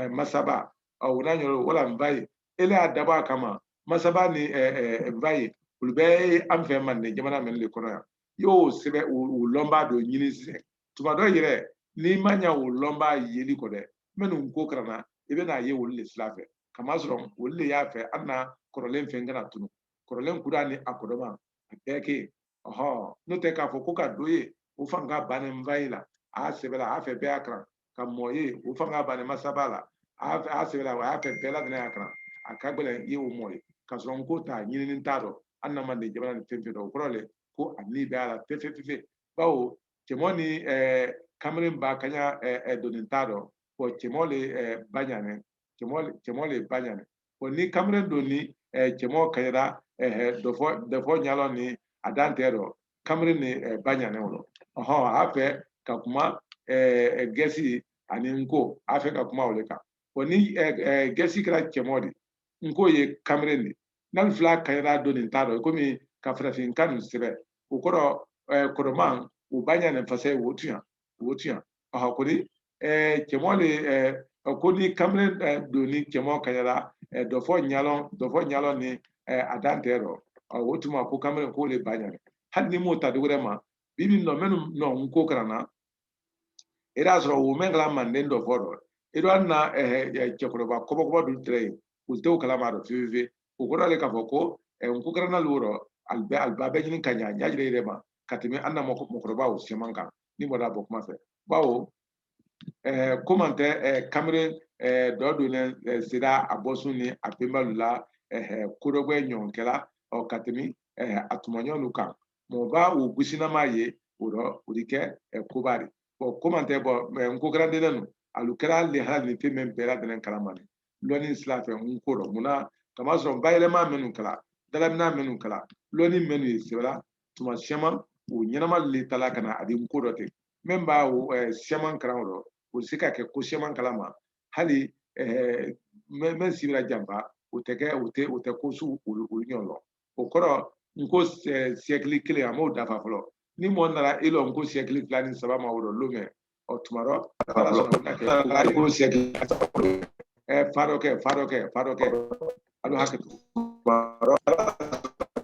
masaba o n'a ɲɔgɔn wala nfayi i le y'a dabɔ a kama masaba ni nfayi olu bɛɛ ye an fɛ manden jamana mɛnlu de kɔnɔ yan i y'o sɛbɛn o lɔnba dɔ ɲini sisan tuma dɔ yɛrɛ n'i ma ɲa o lɔnba yeli kɔ dɛ minnu n ko kalanna i bɛna a ye olu de sira fɛ kamasɔrɔ olu de y'a fɛ an na kɔrɔlen fɛn kana tunu kɔrɔlen kura ni a kɔdɔma a bɛɛ kɛ yen ɔhɔn n'o tɛ k'a fɔ ko ka dɔ ye o fanga bannen nfayi la a y'a sɛbɛn la a y'a fɛ bɛɛ y'a kalan ka mɔɔ ye o fanga bani masaba la a y'a sɛbɛn a y'a fɛ bɛɛ lajɛlen y'a kalan a ka gɛlɛn i y'o mɔɔ ye ka sɔrɔ n ko ta ɲininin t'a dɔ an na manden jamana ni fɛn fɛn dɔ o kɔrɔ le ko a ni bɛ a la fefe fefe bawo cɛmɔ ni kamalen ba kaɲa doni ta dɔ bɔn cɛmɔ le ba ɲani cɛmɔ le ba ɲani ko ni kamalen dɔ ni cɛmɔgɔ kanyara dɔfɔ dɔfɔ ɲalɔn ni a dan tɛ dɔ kamalen ne ba ɲanɛ o lɔ ɔhɔn a fɛ ka kuma gɛsi ani n ko a fɛ ka kuma o de kan ko ni gɛsi kɛra cɛmɔgɔ di n ko ye kamalen di n'alu fila kanyara dɔnni ta dɔ komi ka farafin kan nu sɛbɛn o kɔrɔ kɔrɔman o ba ɲanɛ fasa ye o tuɲa o tuɲa aha ko ni eh, cɛmɔ le eh, ko ni kamalen eh, don ni cɛmɔ kanyara eh, dɔfɔ ɲalɔn dɔfɔ ɲalɔn ni eh, a dan tɛ rɔ Ah, o tuma ko kamalen k'o le ba ɲanɛ hali ni m'o ta dogorɛ ma bibi nɔ mɛnu nɔ n ko karanna i y'a sɔrɔ wo mɛn kala manden dɔfɔ rɔ i dɔ hali na eh, eh, cɛkɔrɔba kɔbɔkɔbɔ dun tɛrɛ yen u tɛ o kalama dɔ fiyefiye o kɔrɔ le k'a fɔ ko eh, n ko karanna lu rɔ alibɛ aliba bɛ ɲini ka ɲa ɲa jɛrɛ jɛrɛ ma ka tɛmɛ an na mɔkɔ- mɔgɔkɔrɔbaw siyaman kan ni bɔra bɔ kuma fɛ bawo ɛɛ ko man tɛ ɛɛ kamere ɛɛ dɔ donnen ɛɛ sera a bɔsun ni a bɛnbalu la ɛɛ kodɔgbɛ ɲɔgɔn kɛla ɔ ka tɛmɛ ɛɛ a tuma ɲɔgɔn kan mɔgɔ b'a o gusinama ye o rɔ o de kɛ ɛɛ koba de bɔn ko man tɛ bɔ mɛ n ko karanden nu alu kɛra le hali ni fɛn min bɛɛ ladɛnnɛn kalama de lɔnni sira fɛ n ko rɔ mun na kama sɔrɔ bayɛlɛma minnu kɛla dalamina minnu kɛla lɔnni minnu ye sɛbɛla tuma caman o ɲɛnama le tala ka na a di n ko dɔ ten min ba siyaman kalan o rɔ o di se ka kɛ ko siyaman kalama hali mɛn si bara janfa o tɛ kɛ o tɛ o tɛ ko su olu ɲɔgɔn lɔn o kɔrɔ n ko siyɛkili kelen a m'o dafa fɔlɔ ni mɔgɔ nana i lɔ n ko siyɛkili fila ni saba ma o rɔ lomɛ ɔ tuma dɔ ala sɔnna u bɛna kɛ ko wɛrɛ ko siyɛkili fadɔkɛ fadɔkɛ fadɔkɛ alu hakɛ to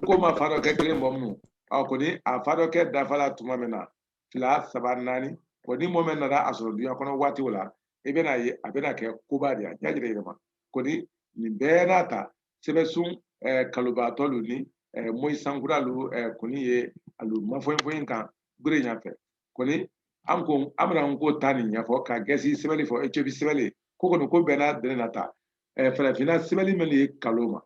n ko ma fadɔkɛ kelen bɔ munun ɔ kɔni a fadɔkɛ dafala tuma min na fila saba naani kɔni mɔgɔ min nana a sɔrɔ dunya kɔnɔ waati o la i bɛna ye a bɛna kɛ koba de ye a ɲa jɛrɛ jɛrɛ ma kɔni nin bɛɛ n'a ta sɛbɛsun eh, kalobaatɔ lu ni eh, moyi sankura lu eh, kɔni ye alu mafoyinfoyin kan gure ɲafɛ kɔni an ko an bɛna n ko ta nin ɲɛfɔ ka gɛsi sɛbɛnni fɔ ecopi sɛbɛnni ko kɔni ko bɛɛ ladɛnnɛn na ta farafinna sɛbɛnni min ye kalo ma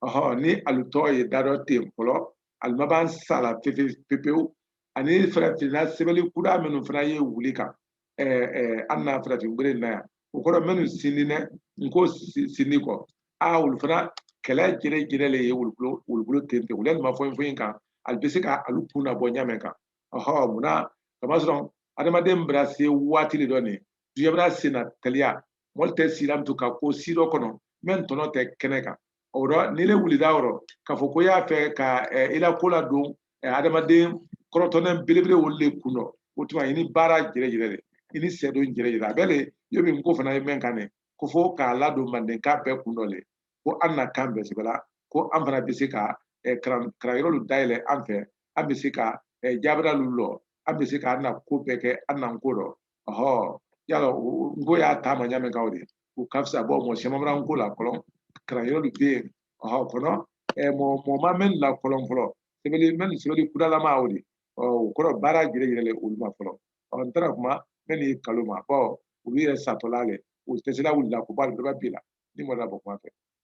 ɔhɔ ni alu tɔ ye dadɔ ten fɔlɔ alu ma ban sa la pepe pepewu ani farafinna sɛbɛnni kura minnu fana ye wuli kan an na farafin bere na yan o kɔrɔ minnu sindi dɛ n ko sindi kɔ a olu fana kɛlɛ jɛrɛ jɛrɛ le ye wulukulo wulukulo ten ten u lɛ mafoyinfoyin kan alu bɛ se ka alu kun na bɔ ɲa mɛn kan ɔhɔ munna kamasɔrɔ adamaden bara se waati le dɔ nin duɲa bara sen na teliya mɔli tɛ silam to ka ko si dɔ kɔnɔ mɛn tɔnɔ tɛ kɛnɛ kan o rɔ ni ile wulida yɔrɔ k'a fɔ ko y'a fɛ ka i la ko ladon adamaden kɔrɔtɔnɛ belebele wolu le kun dɔ o tuma i ni baara jɛrɛ jɛrɛ de i ni sɛdon jɛrɛ jɛrɛ a bɛ le yomi n ko fana ye mɛn kan ne ko fo k'a ladon mandenka bɛɛ kun dɔ le ko an na kan bɛ sɛbɛla ko an fana bɛ se ka karanyɔrɔ lu dayɛlɛ an fɛ an bɛ se ka eh, jabira lu lɔ an bɛ se ka an na ko bɛɛ kɛ an na n ko dɔ ɔhɔ yala n ko ye taama ɲa mɛn kan o de o ka fisa bɔ mɔgɔ siyaman bara n ko la ko lɔn karanyɔrɔ lu bɛ yen ɔhɔ kɔnɔ eh, mɔgɔ mɔgɔ ma mɛn la ko lɔn fɔlɔ sɛbɛli mɛn sɛbɛli kudalama o de ɔ o kɔrɔ baara jɛrɛ jɛrɛ olu ma fɔlɔ ɔ n taara kuma mɛn ni kalo ma bɔ olu yɛrɛ satɔla le o tɛ se la wulila ko ba bɛɛ b'a bi la ni mɔgɔ la bɔ kuma fɛ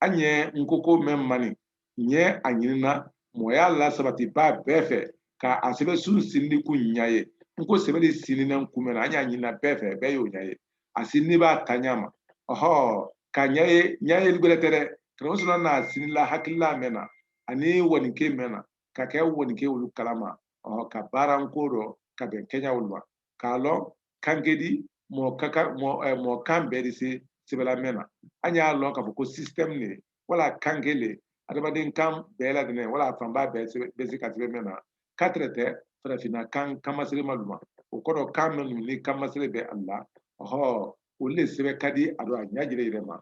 an ye n ko ko mɛn ma nin n ye a ɲinina mɔgɔya lasabatibaa bɛɛ fɛ ka a sɛbɛsun sindi kun ɲa ye n ko sɛbɛli sindinɛn kun mɛn na an y'a ɲinina bɛɛ fɛ bɛɛ y'o ɲa ye a sindibaa ta ɲa ma ɔhɔ ka ɲa ye ɲa ye gwɛrɛ tɛ dɛ karamɔ solomana n'a sindila hakilila mɛn na ani wɔnike mɛn na ka kɛ wɔnike olu kalama ɔhɔ ka baara n ko dɔ ka bɛn kɛɲa olu ma k'a lɔn kanke di mɔɔ ka kan mɔɔ eh, mɔɔ kan bɛɛ di se sɛbɛla mɛn na an y'a lɔn k'a fɔ ko système ne wala kanke le adamaden kan bɛɛ ladɛnɛ wala a fanba bɛɛ sɛbɛ- bɛ se ka sɛbɛ mɛn na katɛrɛtɛ farafinna kan kanmaserema lu ma o kɔrɔ kan mɛn nu ni kanmasere bɛ alu la ɔhɔ olu le sɛbɛ ka di a dɔ a ɲa jɛrɛ jɛrɛ ma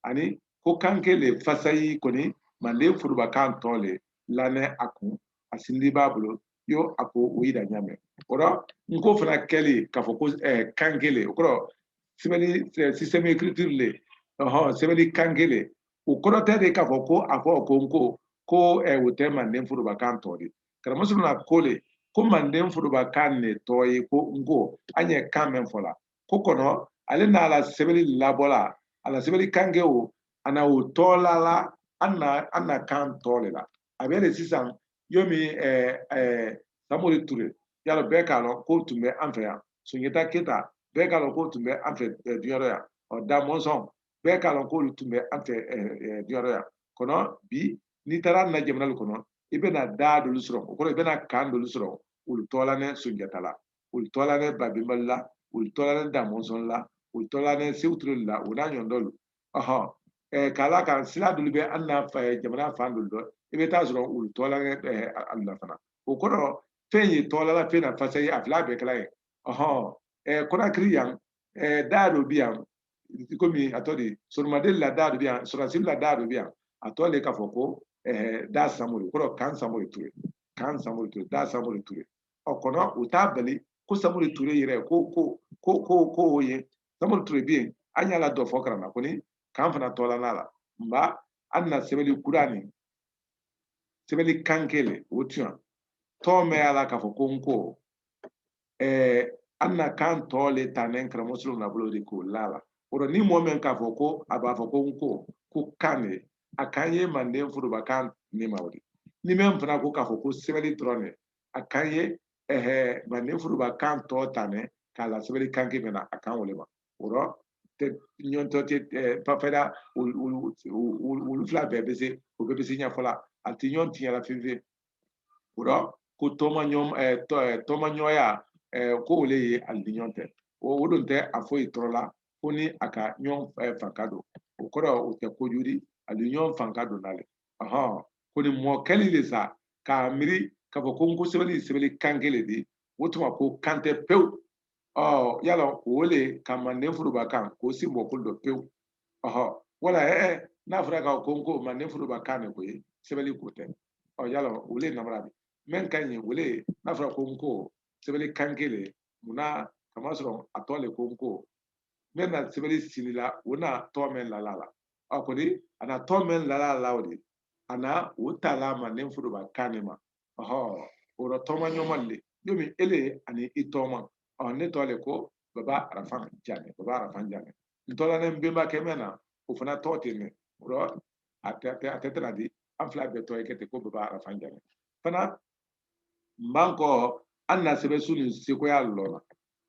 ani ko kanke le fasayi kɔni manden forobakan tɔ le lanɛ a kun a sindibaa bolo yo a ko o yira ɲa mɛn o rɔ n ko fana kɛli k'a fɔ ko eh, kanke le o kɔrɔ sɛbɛli eh, système écriture le ɔhɔn sɛbɛli kanke le o kɔrɔ tɛ de k'a fɔ ko a fɔ ko n ko ko eh, o tɛ manden forobakan tɔ di karamɔ solomana ko le ko manden forobakan ne tɔ ye ko n ko an ye kan mɛn fɔ la ko kɔnɔ ale n'a la sɛbɛli labɔla a la sɛbɛli kanke o a na o tɔɔla la an na an na kan tɔ le la a bɛ le sisan yomi samori ture yala bɛɛ k'a lɔn k'o tun bɛ an fɛ yan sunjata keta bɛɛ k'a lɔn k'o tun bɛ an fɛ duɲa rɔ yan ɔ da mɔnsɔn bɛɛ k'a lɔn k'olu tun bɛ an fɛ duɲa rɔ yan kɔnɔ bi n'i taara an na jamana lu kɔnɔ i bɛna da dolu sɔrɔ o kɔrɔ i bɛna kan dolu sɔrɔ olu tɔɔlanɛ sunjata la u tɔ lanen babɛnba lu la u tɔ lanen damɔnsɔn la u tɔ lanen seku ture lu la u n'a ɲɔgɔn dɔlu ɔhɔn k'a la kan sira dɔlu bɛ an na jamana fan dɔlu dɔ i bɛ taa sɔrɔ u tɔ lanen alu la fana o kɔrɔ fɛn ye tɔ lala fɛn na fasa ye a fila bɛɛ kɛla ye ɔhɔn kɔnakiri yan daa dɔ bi yan komi a tɔ de soromaden la daa dɔ bi yan sɔrɔdasi lu la daa dɔ bi yan a tɔ le k'a fɔ ko daa samori kɔrɔ kan samori ture kan samori ture daa samori ture ɔ kɔnɔ u t'a bali ko samori ture yɛrɛ ko ko ko ko ko o ye samori ture bɛ yen an y'a la dɔ fɔ karana kɔni kan fana tɔ lan'a la nba an na sɛbɛnni kura ni sɛbɛnni kan kelen o tuyan tɔn bɛ y'a la k'a fɔ ko n ko ɛɛ an na kan tɔ le tanen karamɔgɔ solomana bolo de k'o la la o rɔ ni mɔgɔ min k'a fɔ ko a b'a fɔ ko n ko ko kan de a kan ye manden foroba kan ne ma o de ni mɛn fana ko k'a fɔ ko sɛbɛnni dɔrɔn de a kan ye ɛhɛ manden furuba kan tɔ tanen k'a la sɛbɛnni kan k'i mɛna a kan o le ma o rɔ tɛ ɲɔntɔ tɛ ɛɛ pafɛda olu fila bɛɛ bɛ se o bɛɛ bɛ se ɲɛfɔ la a tɛ ɲɔn tiɲɛ la fiyewu fiyewu o rɔ ko tɔma ɲɔn ɛɛ tɔ ɛɛ tɔma ɲɔya ɛɛ ko o le ye alu ni ɲɔn tɛ o o don tɛ a foyi tɔɔrɔ la fo ni a ka ɲɔn ɛɛ fanka don o kɔrɔ o tɛ kojuu di alu ye ɲɔn fanka don na le ɔhɔn ko ni mɔɔ kɛli le sa k'a miiri k'a fɔ ko n ko sɛbɛnni sɛbɛnni kan kelen di o tuma ko kan tɛ pewu ɔ yala o le ka manden foroba kan ko sen bɔ ko lu dɔ pewu ɔhɔ wala ɛɛ n'a fɔra ka ko n ko manden foroba kan de ko ye sɛbɛnni ko tɛ ɔ yala o le namara de mɛn ka ɲi o le n'a fɔra ko n ko sɛbɛnni kan kelen munna kama sɔrɔ a tɔ le ko n ko mɛn na sɛbɛnni sindila o na tɔ mɛn lala la a kɔni a na tɔ mɛn lala la o de a na o ta la manden furuba kan ne ma ɔhɔ o rɔ tɔma ɲɔma le yomi ele ani i tɔma ɔ ne tɔ le ko baba arafan jane baba arafan jane n tɔ lanen benbakɛ mɛn na o fana tɔ ten ne o rɔ a tɛ a tɛ tana di an fila bɛɛ tɔ ye kɛ ten ko baba arafan jane fana n b'an kɔ an na sɛbɛsun nin sekoya lɔn na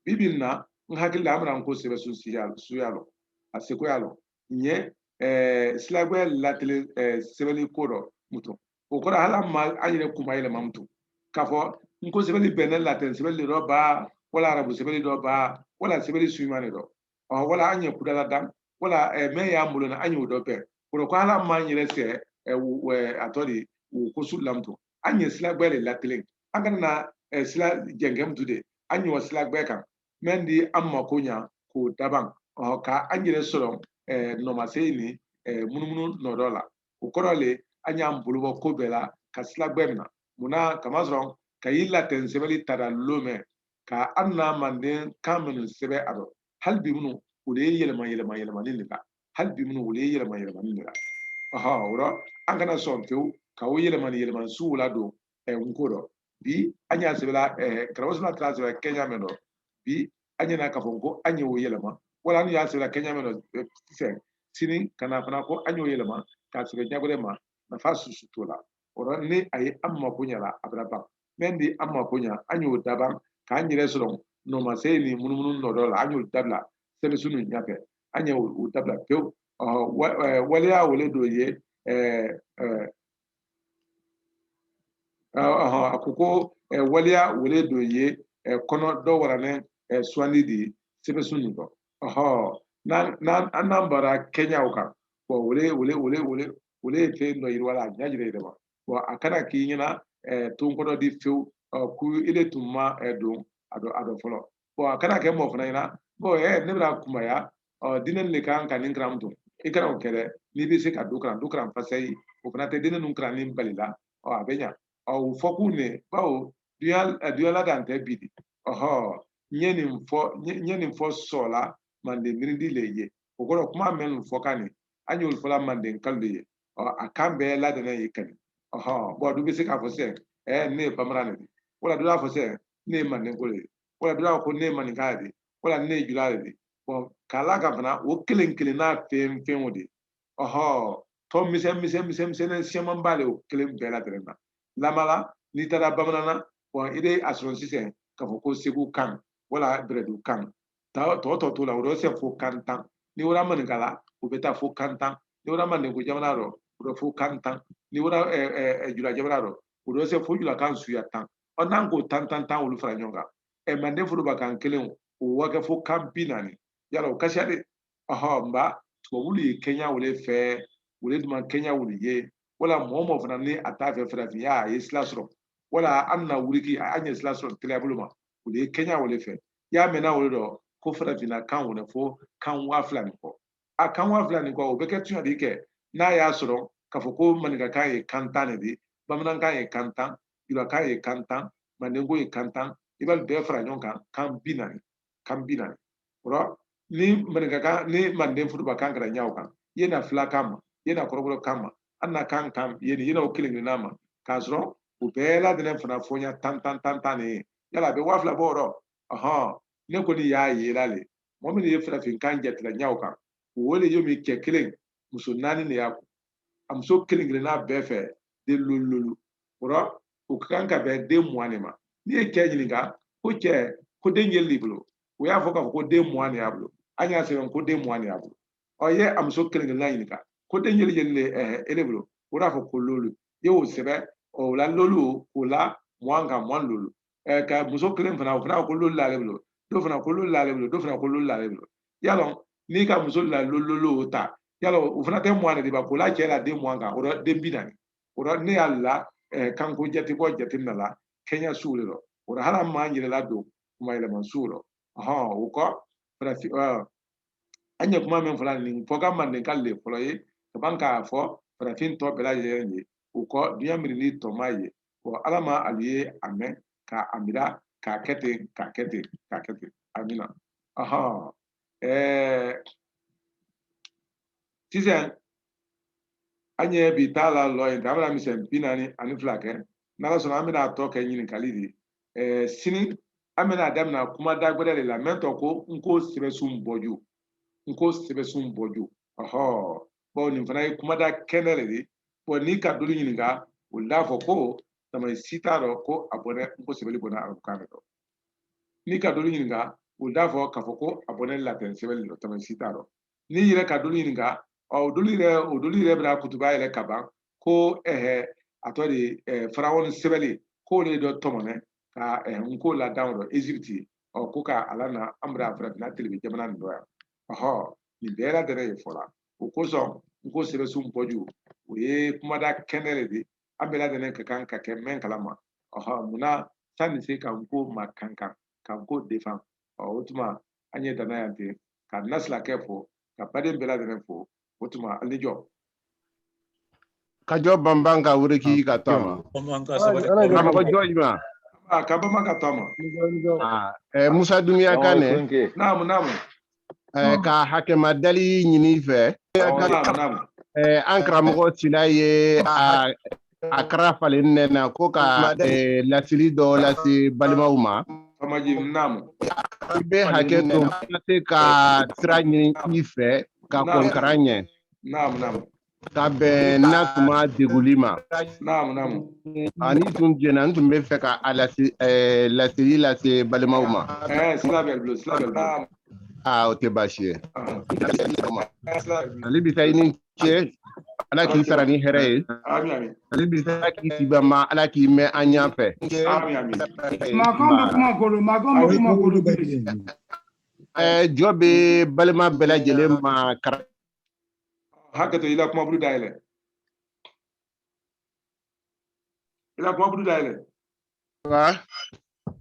bibi in na n hakili la an bɛna n ko sɛbɛsun suya lɔn a sekoya lɔn an ye silagbɛ latelen sɛbɛnni ko dɔ mutu o kɔrɔ hali an ma an yɛrɛ kuma yɛlɛma mutu k'a fɔ n ko sɛbɛnni bɔnen latɛn sɛbɛnni dɔ ba wala arabu sɛbɛnni dɔ ba wala sɛbɛnni su ɲuman de dɔ wala an ye kuda ladan wala mɛn y'an bolo na an y'o dɔbɛn o ko hali an m'an yɛrɛ sɛɛ a tɔ de o ko su la mutu an ye silagbɛ le latelen an kana na sila jɛnkɛ mutu de an ye wa silagbɛ kan min di an mako ɲa k'o daban ɔ ka an yɛrɛ sɔrɔ eh, nɔmasayi ni eh, munumunu nɔ dɔ la o kɔrɔ le an y'an bolo bɔ ko bɛɛ la ka sila gbɛ mina mun na kamasɔrɔn ka y'i latɛn sɛbɛli tada lomɛ ka an na manden kan minnu sɛbɛ a dɔ hali bi minnu o de ye yɛlɛma yɛlɛma yɛlɛmani de la hali bi minnu o de ye yɛlɛma yɛlɛmani de la ɔhɔ o rɔ an kana sɔn fewu ka o yɛlɛmani yɛlɛmani sugu ladon nko dɔ bi an y'a sɛbɛla karamɔgɔ solomana t'a sɛbɛla kɛɲa mɛn dɔ bi an ɲɛna k'a fɔ ko an y'o yɛlɛma wala an y'a sɛbɛla kɛɲa mɛn dɔ sisan sini ka na fana ko an y'o yɛlɛma k'a sɛbɛ ɲa gbɛrɛ ma nafa susu t'o la o rɔ ni a ye an mako ɲa la a bara ban mɛn di an mako ɲa an y'o daban k'an yɛrɛ sɔrɔ nɔmasayi ni munumunu nɔ dɔ la an y'o dabila sɛbɛsun ninnu ɲɛfɛ an y'o dabila pewu waleya wo le dɔ ye a ko ko waleya wo le dɔ ye kɔnɔ dɔ waralen suwandi de ye sɛbɛsun nin dɔ n'an n'an bara kɛɲa o kan wo le ye wo le le le wo le ye fɛn dɔ yiriwa la a ɲa yɛrɛ yɛrɛ ma a kana k'i ɲɛna ton kɔdɔ di fewu ko ile tun ma don a dɔ a dɔ fɔlɔ bɔn a kana kɛ mɔgɔ fana ɲɛna bɔn ɛ ne bɛna kumaya ɔ diinɛ nin de kan ka nin kalan don i kana o kɛ dɛ n'i bɛ se ka dɔ kalan dɔ kalan fasayi o fana tɛ diinɛ ninnu kalanni bali la ɔ a bɛ ɲa ɔ o fɔ kun ne bawo duɲa ladan tɛ bi di ɔhɔ n ye nin fɔ n ye nin fɔ sɔɔla manden mirindi le ye o kɔrɔ kuma mɛn nin fɔ kan nin an y'olu fɔla mandenkalu de ye ɔ a kan bɛɛ ladɛnɛn ye kani ɔhɔ bɔn dɔ bɛ se k'a fɔ sisan ɛɛ ne ye bamanan de ye wala dɔ b'a fɔ sisan ne ye mandenko le ye wala dɔ y'a fɔ ne ye maninka de ye wala ne ye jula de ye bɔn k'a la ka fana o kelen kelenna fɛn fɛn o de ɔhɔ tɔ misɛn misɛn misɛn misɛnnin siyaman ba le o kelen bɛɛ la dɛrɛ na lamala n'i taara bamanan na bɔn i bɛ a sɔrɔ sisan k'a fɔ ko segu kan wala bɛlɛdu kan tɔ tɔ t'o la o di se fo kan tan n'i wara maninka la o bɛ taa fo kan tan n'i wara mandenko jamana rɔ o bɛ fo kan tan n'i wara jula jamana rɔ o di se fo julakan suya tan ɔ n'an k'o tan tan tan olu fara ɲɔgɔn kan ɛ manden foroba kan kelen o wa kɛ fo kan binaani yala o ka siya de ɔhɔ nba tubabulu ye kɛɲa wo le fɛ wo le duman kɛɲa wo le ye wala mɔgɔ mɔgɔ fana ni a t'a fɛ farafinna ye sira sɔrɔ wala an na wuriki an ye sira sɔrɔ teliya bolo ma o de ye kɛɲa wo le fɛ y'a mɛnna o de dɔ ko farafinna kan wo le fo kan waa fila ni kɔ a kan waa fila ni kɔ o bɛ kɛ tuɲa di kɛ n'a y'a sɔrɔ k'a fɔ ko maninkakan ye kan tan de ye bamanankan ye kan tan julakan ye kan tan mandenko ye kan tan i b'a bɛɛ fara ɲɔgɔn kan kan bi naani kan bi naani o la ni maninkakan ni manden foroba kan kɛra ɲa o kan i ye na fila kan ma i ye na kɔrɔbɔrɔ kan ma an na kan kan i ye nin yɛlɛw kelen kelenna ma k'a sɔrɔ u bɛɛ ladɛnɛn fana fɔɲa tan tan tan tan de ye yala a bɛ waa fila bɔ yɔrɔ ɔhɔn ne kɔni y'a yela le mɔgɔ min ye farafinkan jatela ɲa o kan o le yo min cɛ kelen muso naani de y'a kun a muso kelen kelenna bɛɛ fɛ den lolu lolu o la o ka kan ka bɛn den mugan de ma n'i ye cɛ ɲininka ko cɛ ko den jeli d'i bolo o y'a fɔ k'a fɔ ko den mugan de y'a bolo an y'a sɛbɛn ko den mugan de y'a bolo ɔ i ye a muso kelen kelenna ɲininka ko den jeli jeli de ɛɛ e de bolo o d'a fɔ ko lolu i y'o sɛbɛn o la lolu k'o la mugan kan mugan lolu ka muso kelen fana o fana ko lolu l'ale bolo dɔ fana ko lolu l'ale bolo dɔ fana ko lolu l'ale bolo yalɔ n'i ka muso la lolu lolu ta yalɔ o fana tɛ mugan de di ba k'o la cɛ la den mugan kan o la den bi naani o la ne y'a la kanko jate bɔ jate na la kɛɲa suw de lɔ o la hali an m'an yɛrɛla don kuma yɛlɛma suw lɔ ɔhɔn o kɔ farafin an ye kuma min fɔla nin fɔ ka mandenka le fɔlɔ ye ka ban k'a fɔ farafin tɔ bɛɛ lajɛlen ye o kɔ duɲa miirindi tɔma ye Bon ala ma ali ye a mɛn k'a a mira k'a kɛ ten k'a kɛ ten k'a kɛ ten amina ahan ɛɛ sisan an ye bi ta lalɔ yen ten an bɛna misɛn bi naani ani fila kɛ n'ala sɔnna an bɛna a tɔ kɛ ɲininkali di ɛɛ sini an bɛna a damina kumada gbɛrɛ de la mɛn tɔɔ ko nko sɛbɛsun bɔju nko sɛbɛsun bɔju ɔhɔ bɔn nin fana ye kumada kɛnɛ de di bɔn n'i ka dolu ɲininka o la fɔ ko tama si t'a dɔ ko a bɔnɛn nko sɛbɛli bɔnɛn arabukan de dɔ n'i ka dolu ɲininka o d'a fɔ k'a fɔ ko a bɔnɛn latɛn sɛbɛli de dɔ tama si t'a dɔ n'i yɛrɛ ka dolu ɲininka ɔ o dolu yɛrɛ o dolu yɛrɛ bɛna kutuba yɛlɛ ka ban ko ɛhɛ a tɔ de ɛɛ farawon sɛbɛli k'o de dɔ tɔmɔnɛ ka ɛɛ nko ladan o dɔ ezipiti ɔ ko ka a lana an bara farafinna telebe jamana nin dɔ yan ɔhɔ nin bɛɛ ladɛnɛn ye fɔla o kosɔn nko sɛbɛsun bɔju o ye kumada kɛnɛ de di an bɛɛ ladɛnɛn ka kan ka kɛ mɛn kalama ɔhɔ munna sa an ni se ka nko makankan ka nko defan ɔ o tuma an ye dan na yan ten ka na silakɛ fo ka baden bɛɛ ladɛnɛn fo o tuma an ni jɔ ka jɔ banban ka wuri k'i ka taama Bamanan ka sabali. Ala ka mɔgɔ jɔ juma Ah, ka bama ka taama. Eh, musa dunya ka ne Naamu naamu. eh, ka hakɛma dali ɲini i fɛ Awɔ, naamu naamu. Eh, an karamɔgɔ sila ye a a karifalen ne na ko ka eh, laseli dɔ lase balimaw ma i bɛ hakɛ to ka se ka sira ɲini i fɛ ka kɔnkara ɲɛ ka bɛn n'a tuma deguli ma ani tun jɛna n tun bɛ fɛ ka a eh, laseli lase balimaw ma eh, aa ah, o tɛ baasi ye ah. ale bi taa i ni ce ala k'i sara ni hɛrɛ ye ale bi sara k'i sibama ala k'i mɛn an ɲa fɛ jɔ bɛ balima bɛɛ lajɛlen ma kara hakɛto i la kumaburu dayɛlɛ i la kumaburu dayɛlɛ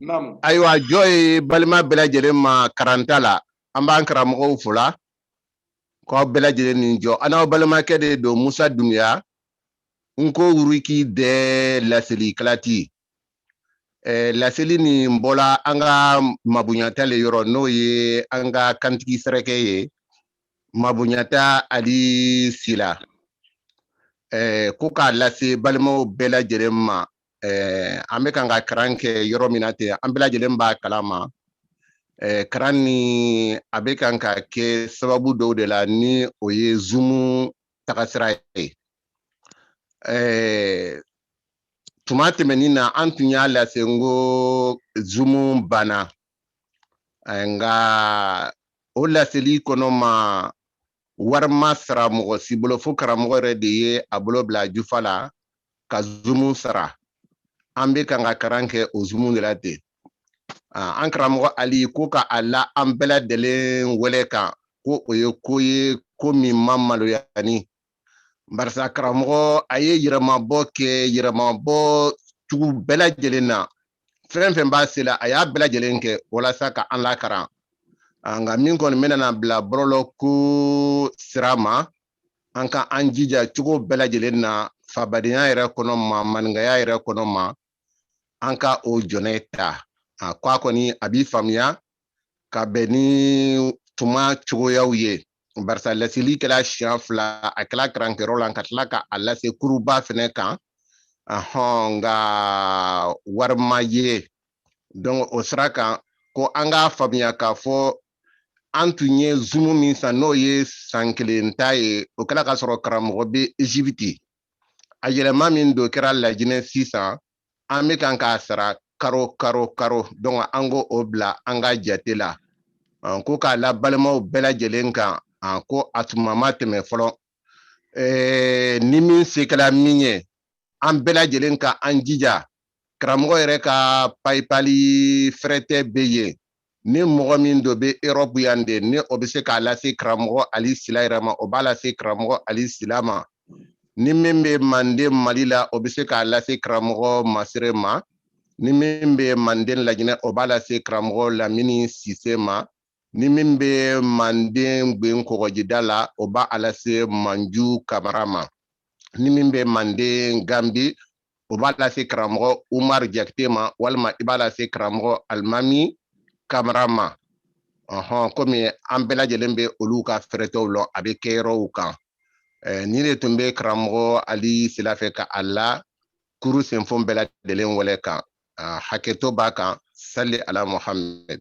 naamu ayiwa jɔ ye balima bɛɛ lajɛlen ma karanta la an b'an karamɔgɔw fo la k'aw bɛɛ lajɛlen ni jɔ an n'aw balimakɛ de don Musa Dunbiya Nko wuriki dɛ laseli kalati eh, laseli nin bɔla an ka mabunyata le yɔrɔ n'o ye an ka kantigi sɛrɛkɛ ye Mabunyata Ali Sila eh, ko k'a lase balimaw bɛɛ lajɛlen ma eh, an bɛ kan ka karan kɛ yɔrɔ min na ten an bɛɛ lajɛlen b'a kalama eh, karan ni a bɛ kan ka kɛ sababu dɔw de la ni o ye zumu tagasira ye eh, tuma tɛmɛnin na an tun y'a lase n ko zumu banna eh, nka o laseli kɔnɔ ma wari ma sara mɔgɔ si bolo fo karamɔgɔ yɛrɛ de ye a bolo bila jufa la ka zumu sara an bɛ kan ka karan kɛ o zumu de la ten ah, an karamɔgɔ ali ko ka a la an bɛɛ lajɛlen wɛlɛ kan ko o ye ko ye ko min ma maloya ni barisa karamɔgɔ a ye yɛrɛmabɔ kɛ yɛrɛmabɔ cogo bɛɛ lajɛlen na fɛn fɛn b'a se la a y'a bɛɛ lajɛlen kɛ walasa ka an lakaran nka min kɔni bɛna bila bɔlɔlɔ ko sira ma an ka an jija cogo bɛɛ lajɛlen na fabadenya yɛrɛ kɔnɔ ma maninkaya yɛrɛ kɔnɔ ma an ka o jɔnɛ ta a ko a kɔni a bi faamuya ka bɛn ni tuma cogoyaw ye barisa laseli kɛla siɲɛ fila a kɛla karankɛyɔrɔ la ka tila ka a lase kuruba fɛnɛ kan ahɔn nka wari ma ye donc o sira kan ko an k'a faamuya k'a fɔ an tun ye zumu min san n'o ye san kelen ta ye o kɛra k'a sɔrɔ karamɔgɔ bɛ Ezipiti a yɛlɛma min don kɛra lajinɛ sisan an bɛ kan k'a sara karo karo karo donc an ko o bila an ka jate la ko k'a la balimaw bɛɛ lajɛlen kan ko a tuma ma tɛmɛ fɔlɔ ni min se kɛra min ye an bɛɛ lajɛlen ka an jija karamɔgɔ yɛrɛ ka payipali fɛrɛtɛ bɛ yen ni mɔgɔ min dɔ bɛ erɔpu yan de ni o bɛ se k'a lase karamɔgɔ ali sila yɛrɛ ma o b'a lase karamɔgɔ ali sila ma ni min bɛ manden mali la o bɛ se k'a lase karamɔgɔ masire ma ni min bɛ manden lajinɛ o b'a lase karamɔgɔ lamini sise ma ni min bɛ manden gben kɔgɔjida la o b'a lase manju kamara ma ni min bɛ manden ganbi o b'a lase karamɔgɔ umar jakite ma walima i b'a lase karamɔgɔ alimami kamara ma ɔhɔn komi an bɛɛ lajɛlen bɛ olu ka fɛrɛtɛw lɔn a bɛ kɛ yɔrɔw kan eh, nin de tun bɛ karamɔgɔ ali sila fɛ ka a la kuru senfon bɛɛ lajɛlen wɛlɛ kan ah, hakɛto b'a kan sali ala muhammed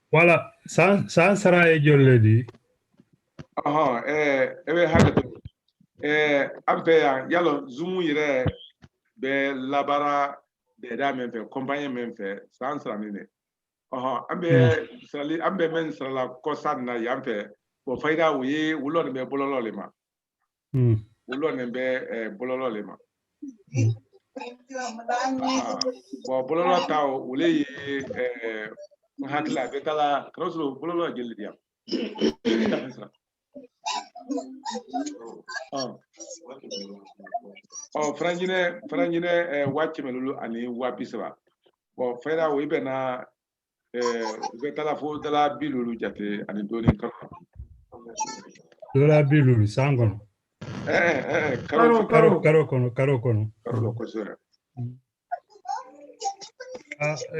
wala san sara ye joli le di ɔhɔn ɛɛ e bɛ hakɛ to ɛɛ an fɛ yan yala zumu yɛrɛ bɛ labara dɛda min fɛ kɔnpanye min fɛ san sara nin ne ɔhɔn an bɛ sarali an bɛ mɛn sarala ko san na yan fɛ bɔn fayida o ye u lɔnnen bɛ bɔlɔlɔ le ma Hmm. u lɔnnen bɛ eh, bɔlɔlɔ le ma Hmm. Ah, bɔn bɔlɔlɔ ta o o le ye eh, n hakili la a bɛ taga k'a sɔrɔ bɔlɔlɔ ye jeli di yan ɔ faranjinɛ faranjinɛ eh, waa kɛmɛ loolu ani waa bi saba bɔn fɛra o i bɛnna bɛ taga fo dala bi loolu jate ani dɔɔnin karo dala bi loolu san kɔnɔ karo karo karo kɔnɔ karo kɔnɔ karo kosɛbɛ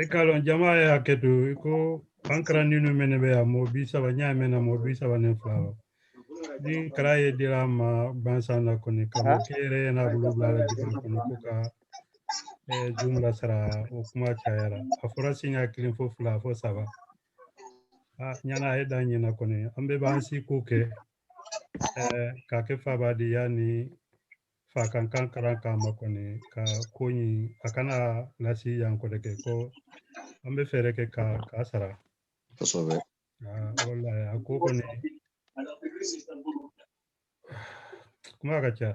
i k'a lɔn jama ye hakɛ to i ko an karandennu mɛn bɛ yan mɔgɔ bi saba n y'a mɛn mɔgɔ bi saba ni fila ni karan ye dira a ma gbansan na kɔni karamɔkɛ yɛrɛ n'a bolo bila la jamana kɔnɔ ko ka eh, zumu lasara o kuma cayara a fɔra siɲɛ kelen fo fila fo saba a ɲana a ye dan ɲɛna kɔni an bɛɛ b'an seko kɛ eh, k'a kɛ fabadenya ni fakankan karan kama kɔni ka ko ɲin a kana lasi yan kɔrɔ kɛ ko an bɛ fɛɛrɛ kɛ ka k'a sara kosɛbɛ Ah, walahi a ko kɔni kuma ka ca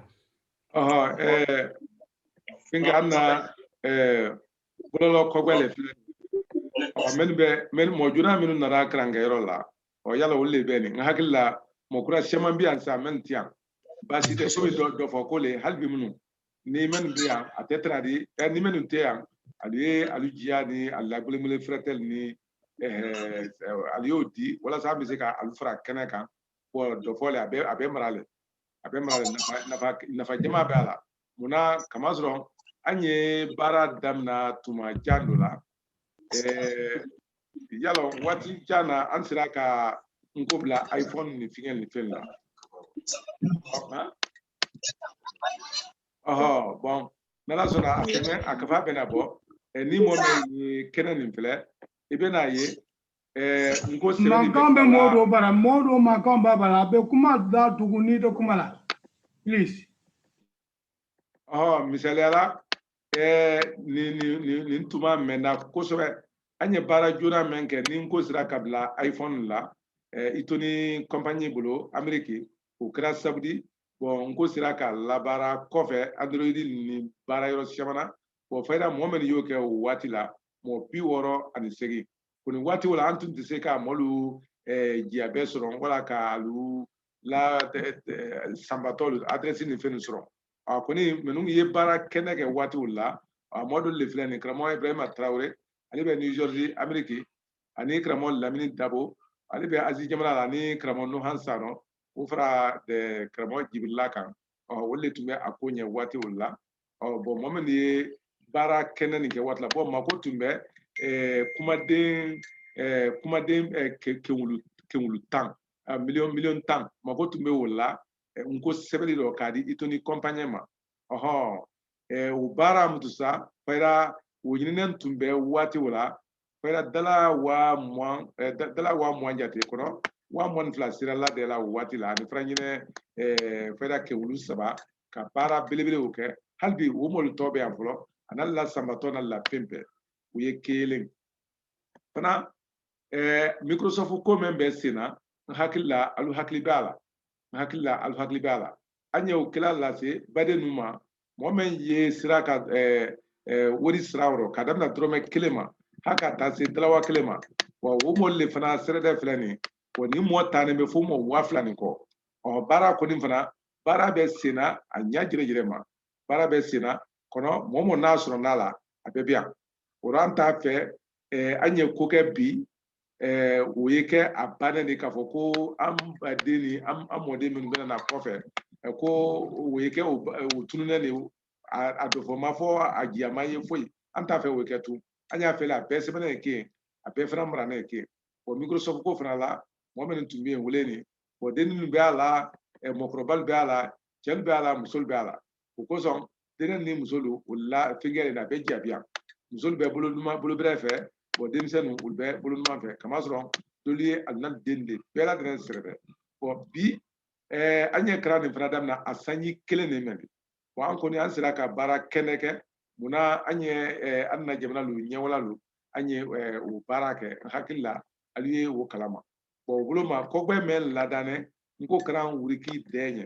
Ɔhɔ, ɛɛ, fɛnkɛ an na ɛɛ, bɔlɔlɔ kɔgbɛ le filɛ. Ɔ, minnu bɛ minnu mɔgɔ joona minnu nara karankɛyɔrɔ la ɔ yala olu le bɛ nin n hakili la mɔgɔ kura caman bɛ yan sa minnu tɛ yan baasi tɛ so dɔfɔ ko le hali bi minnu ni minnu bɛ yan a tɛ tana di ɛ ni minnu tɛ yan alu ye alu jiya ni alu la gbelengbelen fɛrɛtɛ lu ni alu y'o di walasa an bɛ se ka alu fara kɛnɛ kan dɔfɔ le a bɛ a bɛ mara le a bɛ mara nafa nafa jama bɛ a la munna kamasɔrɔn an ye baara daminɛ tuma jan dɔ la y'a lɔn waati jan na an sera ka n ko bila iphone ni fɛn ni fɛn na ɔhɔ bɔn n'ala sɔnna a tɛ mɛn a kafa bɛna bɔ ɛ ni mɔgɔ min ye kɛnɛ nin filɛ i bɛna ye ɛ n ko sɛbɛnni mankan bɛ mɔɔ dɔw bara mɔɔ dɔw mankan b'a bara a bɛ kuma da tugun n'i tɛ kuma la please ɔhɔ misaliya la ɛ nin nin nin nin tuma mɛnna kosɛbɛ an ye baara joona min kɛ ni n ko sera ka bila iphone la ɛ Eatoni kɔnpanyi bolo ameriki o kɛra sabu di bɔn n ko sera ka labaara kɔfɛ android ni baara yɔrɔ caman na bɔn fayida mɔgɔ min y'o kɛ o waati la mɔgɔ bi wɔɔrɔ ani segin kɔnin waati o la an tun tɛ se ka mɔɔ lu eh, jiya bɛɛ sɔrɔ wala ka alu la sanbatɔ adrɛsi ni fɛn sɔrɔ a kɔni minnu ye baara kɛnɛ kɛ waati o la a mɔɔ dɔ le filɛ nin karamɔgɔ ibrahima tarawele ale bɛ new jersey ameriki ani karamɔgɔ lamini dabo ale bɛ azi jamana la ani karamɔgɔ nuhan sanɔ o fara de karamɔgɔ jibirila kan olu le tun bɛ a ko ɲɛ waati o la bɔn mɔgɔ min ye baara kɛnɛ nin kɛ waati la bɔn mako tun bɛ kumaden kumaden kewulu kewulu tan miliyɔn miliyɔn tan mako tun bɛ o la n ko sɛbɛli dɔ k'a di Eatoni kɔnpanyi ma ɔhɔn o baara mutusa fayira o ɲininen tun bɛ waati o la fayira dala waa mugan eh, dala waa mugan jate kɔnɔ waa mugan ni fila sera ladɛ la o waati la ani faran jinɛ eh, fayira kewulu saba ka baara belebelew kɛ hali bi o mɔɔ lu tɔɔ bɛ yan fɔlɔ a n'alu la sanbatɔ n'alu la fɛn bɛɛ o ye kelen fana eh, microsoft ko mɛn bɛ sen na n hakili la alu hakili b'a la n hakili la alu hakili b'a la an y'o kela lase badennu ma mɔgɔ min ye sera ka wori sara o rɔ ka daminɛ dɔrɔmɛ kelen ma hali ka taa se dala waa kelen ma wa o mɔɔ lu le fana sɛrɛdɛ filɛ nin wa ni mɔɔ taanin bɛ fo mɔɔ waa fila ni kɔ ɔ baara kɔni fana baara bɛ senna a ɲa jɛrɛjɛrɛ ma baara bɛ senna kɔnɔ mɔɔ mɔɔ n'a sɔrɔ n'a la a bɛɛ bɛ yan o rɔ an t'a fɛ an ye ko kɛ bi eh, o ye kɛ a bannen de k'a fɔ ko an baden ni an mɔden minnu bɛna na kɔfɛ eh, ko o ye kɛ o tununnen de a dɔfɔ ma fɔ a jiyama ye foyi an t'a fɛ o ye kɛ tun an y'a fɛ la a bɛɛ sɛbɛnnen ye kɛ a bɛɛ fana maranen ye kɛ o microsoft ko fana la mɔgɔ minnu tun bɛ yen o le nin o denninnu bɛ a la mɔgɔkɔrɔbalu bɛ a la cɛnu bɛ a la musolu bɛ a la o kosɔn dennin ni musolu o la fɛnkɛ de la a bɛ jabiya musolu bɛ bolo bɛrɛ fɛ denmisɛnnu olu bɛ bolo numan fɛ kamasɔrɔ dolu ye alu na den de bɛɛ ladɛnɛn sɛbɛ bon bi ɛɛ an ye kalan nin fana daminɛ a sanji kelen de mɛ bon an kɔni an sera ka baara kɛnɛ kɛ munna an ye an na jamana lu ɲɛwala lu an ye o baara kɛ n hakili la ali ye o kalama bon o bolo ma kɔgbɛ mɛ ladanɛ nko kalan wuriki dɛ ɲɛ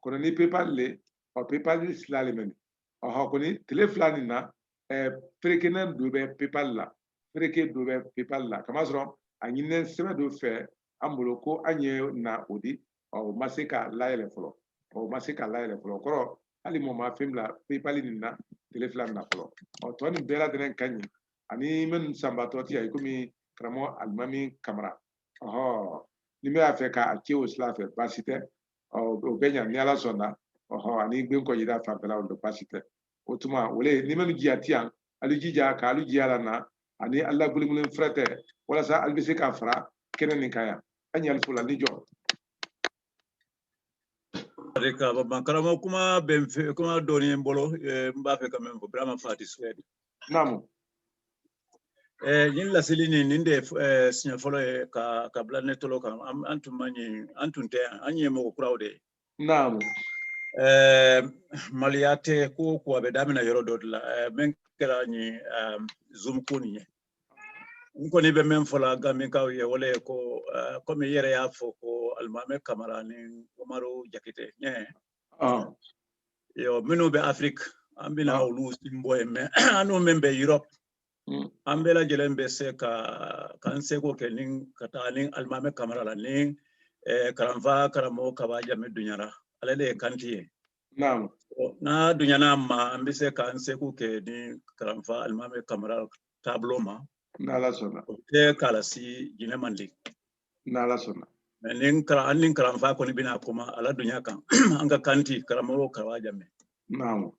kono ni paypal le ɔ paypal ni sila le mɛni ɔhɔ kɔni tile fila nin na ɛɛ perekenen do bɛ paypal la pereke do bɛ paypal la kamasɔrɔ a ɲininen sɛbɛn do fɛ an bolo ko an ye na o di ɔ o ma se ka layɛlɛ fɔlɔ ɔ o ma se ka layɛlɛ fɔlɔ kɔrɔ hali mɔɔ ma fɛn bila paypal nin na tile fila nin na fɔlɔ ɔ tɔ nin bɛɛ ladɛnɛn ka ɲi ani minnu sanbatɔ ti yan i komi karamɔgɔ alimami kamara ɔhɔ n'i b'a fɛ k'a ce o sira fɛ baasi tɛ ɔ o bɛ ɲa ni ala sɔnna ɔhɔ ani gbe kɔ yida fan bɛɛ la o don baasi tɛ o tuma o le nin mɛnu jiya ti yan alu i jija ka alu jiya la na ani alu la gbelengbelen firɛtɛ walasa alu bɛ se ka fara kɛnɛ nin kan yan an y'alu fo la ni jɔ Barika, ba- ba- karamɔgɔ kuma bɛ n fɛ kuma dɔɔni ye n bolo eh, n b'a fɛ ka min fɔ Birama Fati Suwɛdi naamu nin laseli nin nin de ye siɲɛ fɔlɔ ye k'a bila ne tolo kan an tun man yen an tun tɛ yan an ye mɔgɔ kuraw de ye naamu maloya tɛ ko o ko a bɛ daminɛ yɔrɔ dɔ de la min kɛra nin zoom ko nin ye n kɔni bɛ min fɔ la ganbinkaw ye o le ye ko komi i yɛrɛ y'a fɔ ko alimami kamara ni umaru jakite ɲɛ yɔrɔ minnu bɛ afiriki an bɛna olu sen bɔ yen mɛ annu min bɛ erɔpu an bɛɛ lajɛlen bɛ se ka k'an seko kɛ nin ka taa nin alimami kamara la ni kalanfa karamɔgɔ kaba jamɛ dunyara ale de ye kanti ye n'a dunyana an ma an bɛ se k'an seko kɛ ni kalanfa alimami kamara taabolo ma n'ala sɔnna o tɛ kalasi jinɛ mandi n'ala sɔnna ni ani kalanfa kɔni bɛna kuma a la dunya kan an ka kanti karamɔgɔ kawa jamɛ naamu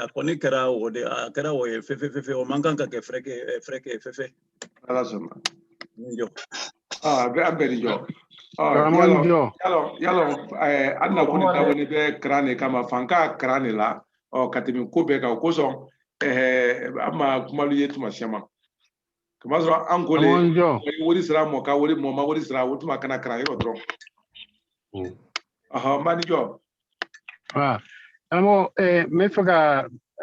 a kɔni kɛra o de a kɛra o ye fefe fefe o man kan ka kɛ fɛrɛkɛ fefe n'ala sɔnna jɔ a bɛ an bɛɛ ni jɔ i y'a lɔn an na ko nin dabɔlen bɛ kalan de kama fanka kalan de la ɔ ka tɛmɛ ko bɛɛ kan o kosɔn an ma kumalu ye tuma siyaman ka masɔrɔ an ko wari sira mɔ ka wari mɔ ma wari sira o tuma kana kalan yɔrɔ dɔrɔn mm. ɔhɔn mani jɔ karamɔgɔ eh, n bɛ fɛ ka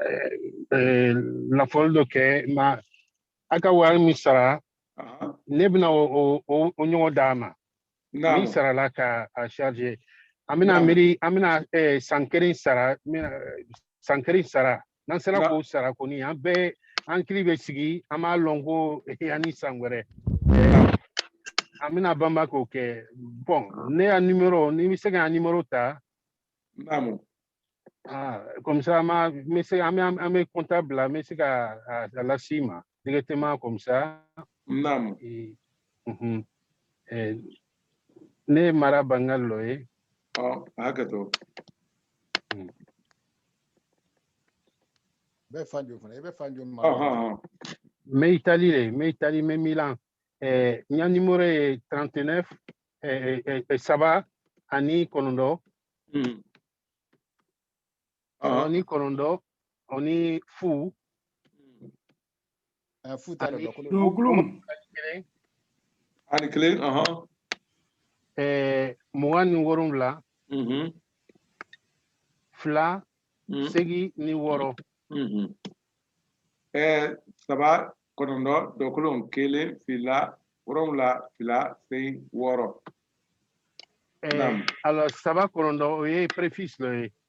eh, eh, lafɔli dɔ kɛ ma a ka wari min sara ne bɛna o ɲɔgɔn d'a ma min sarala ka a charge an bɛna miiri an bɛna san kelen sara san kelen sara n'an sera k'o sara kɔni an bɛɛ hankili bɛ sigi an b'a lɔn ko ani san wɛrɛ an bɛna banba k'o kɛ bon ne ya nimero n'i bɛ se ka n ya nimero ta comme ça an bɛ se an bɛ an bɛ contact bila an bɛ se ka a lase i ma directement comme ça ne ye Mara Bangali lo ye a hakɛ to bɛ fan joli fana i bɛ fan jumɛn n bɛ Itali le n bɛ Itali n bɛ Milan eh, n ya nimero ye 39 eh, eh, eh, saba ani kɔnɔntɔn Mm. saba Ah, ni kɔnɔntɔn ani fu ani kelen mugan ni wolonwula mm-hmm. fila mm-hmm. segi ni wɔɔrɔ mm-hmm. saba kɔnɔntɔn dɔkolon kelen fila wolonwula fila segi wɔɔrɔ alors saba kɔnɔntɔn o ye préfixe lo ye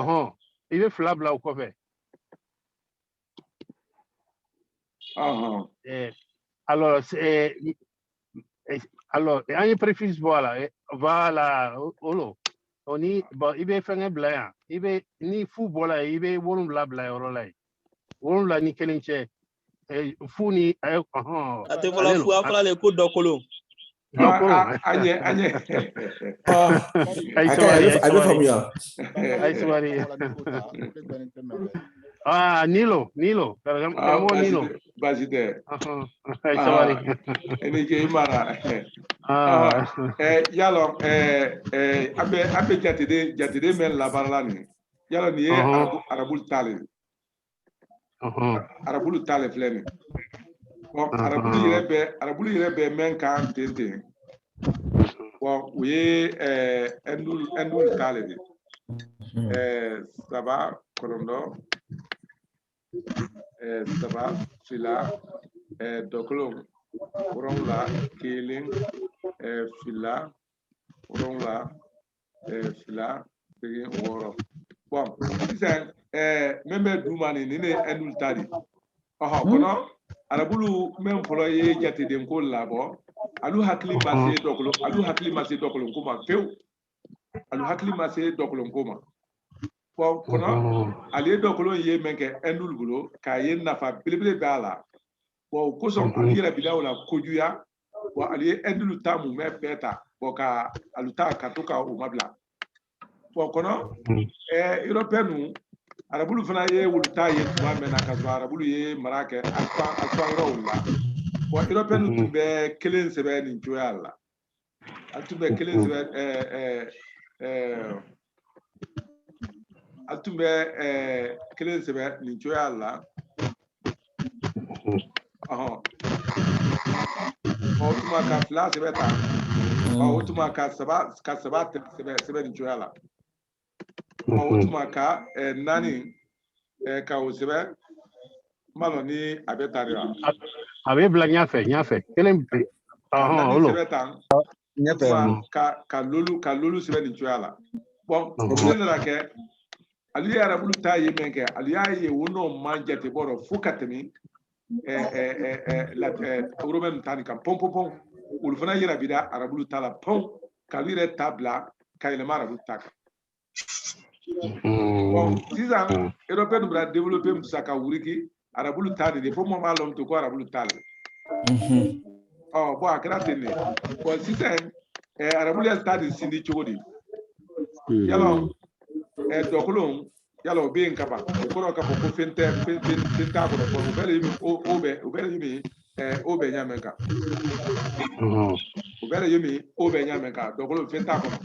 ɔhɔn i bɛ fila bila o kɔfɛ. Eh, alors, eh, eh, alors, an ye préfixe bɔ a la voilà o lo o ni bon i bɛ fɛngɛ bila yan i bɛ ni fu bɔla yen i bɛ wolonwula bila yɔrɔ la yen wolonwula ni kelen cɛ fu ni a tɛ fɔla fu a fɔla le ko dɔkolon a ɲɛ a ɲɛ a ye sabali a bɛ faamuya a ye sabali Ah, nin lo, nin lo, karamɔgɔ ah, nin lo. Baasi tɛ. A ye sabali. I ni ce i mara. I y'a lɔn an bɛ an bɛ jateden jateden mɛn labaarala nin ye i y'a lɔn nin ye arabu arabulu ta le ye. arabulu ta le filɛ nin ye arabulu yɛrɛ bɛ arabulu yɛrɛ bɛ mɛn kan ten ten bon o ye ɛndu ɛndulu ta le di saba kɔnɔntɔn saba fila dɔkolon wolonwula kelen fila wolonwula eh, fila seegin wɔɔrɔ bɔn sisan eh, min bɛ duuma nin nin de ye ɛndulu ta di ɔhɔ kɔnɔ arabulu min fɔlɔ ye jatedenko labɔ alu hakili ma se dɔkolonko ma pewu alu hakili ma se dɔkolonko ma bɔn kɔnɔ alu ye dɔkolon ye min kɛ ɛndulu bolo k'a ye nafa belebele b'a la bɔn o kosɔn alu yɛrɛ bila o la kojuya bɔn alu ye ɛndulu ta mumɛ bɛɛ ta bɔn ka alu ta ka to ka o mabila bɔn kɔnɔ ɛɛ européen nu arabulu fana ye wolu ta ye tuma mɛn na ka sɔrɔ arabulu ye mara kɛ alu fan yɔrɔ wolu la bɔn européen nu tun bɛ kelen sɛbɛn nin cogoya la alu tun bɛ kelen sɛbɛn ɛɛ ɛɛ ɛɛ alu tun bɛ kelen sɛbɛn nin cogoya la o tuma ka fila sɛbɛn tan o tuma ka ka saba sɛbɛn nin cogoya la o tuma ka naani ka o sɛbɛn n m'a lɔn ni a bɛ tan de wa a bɛ bila ɲɛfɛ ɲɛfɛ kelen o lo ka ka lolu ka lolu sɛbɛn nin cogoya la bɔn o fɛn nana kɛ alu ye arabulu ta ye min kɛ alu y'a ye o nɔɔman jatebɔ dɔ fo ka tɛmɛ romɛn nu ta nin kan pɔn pɔn pɔn olu fana yɛrɛ bira arabulu ta la pɔn k'alu yɛrɛ ta bila ka yɛlɛma arabulu ta kan Bon sisan mm. européen nu bara développé min sisan ka wuriki arabulu ta di fo mɔɔ m'a lɔn to ko arabulu ta le ɔ bɔn a kɛra ten de bɔn sisan arabulu y'alu ta de sindi cogo di y'a lɔn dɔkolon y'a lɔn o bɛ yen ka ban o kɔrɔ k'a fɔ ko fɛn tɛ fɛn fɛn fɛn t'a kɔrɔ fɔlɔ o bɛɛ de o o bɛ o bɛɛ de bɛ o bɛɛ ɲa mɛn kan o bɛɛ de bɛ o bɛɛ ɲa mɛn kan dɔkolon fɛn t'a kɔrɔ.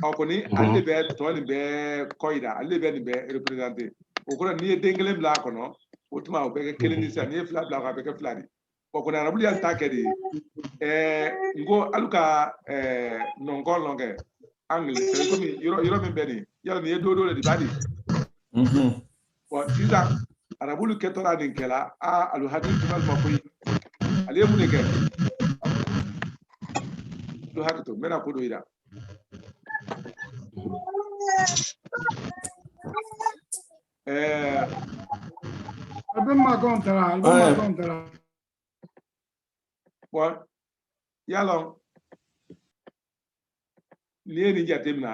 ɔ kɔni ale de bɛ tɔ nin bɛɛ kɔyida ale de bɛ nin bɛɛ reperezante o kɔrɔ n'i ye den kelen bila a kɔnɔ o tuma o bɛ kɛ kelen di sisan n'i ye fila bila a kɔnɔ a bɛ kɛ fila di ɔ kɔni arabulu y'alu ta kɛ di ɛɛ n ko alu ka ɛɛ nɔnkɔn lɔn kɛ angile komi yɔrɔ yɔrɔ min bɛ nin y'a lɔn nin ye don dɔ de b'a di bon sisan arabulu kɛtɔla nin kɛla a alu hakili tun b'a la ko alu ye mun de kɛ alu hakɛ to n bɛna ko dɔ yira ɛɛ a bɛ makɔn tara a bɛ makɔn tara bon y'a lɔn n'i ye nin jateminɛ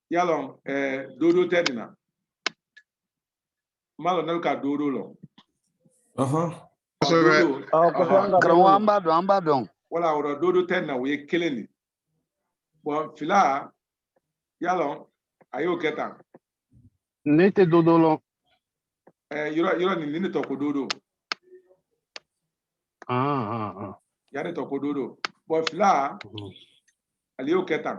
y'a lɔn ɛɛ eh, dodo tɛ nin na n m'a lɔn n'alu ka dodo lɔn. kosɛbɛ karamɔgɔ an b'a dɔn an b'a dɔn. voilà o rɔ dodo tɛ nin na o ye kelen de bon fila y'a lɔn a y'o kɛ tan. ne tɛ dodo lɔn. ɛɛ eh, yɔrɔ yɔrɔ nin nin de tɔ ko dodo. Ah, ah, ah. yan ne tɔ ko dodo bon fila mhm. ale y'o kɛ tan.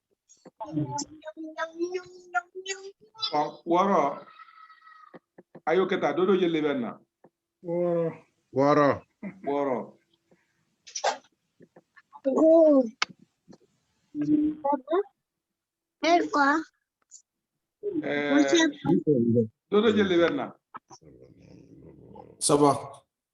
wɔɔrɔ a y'o kɛ tan dodo jeli bɛ na Wɔɔrɔ. Wɔɔrɔ. wɔɔrɔ ɛɛ dodo jeli bɛ na Saba.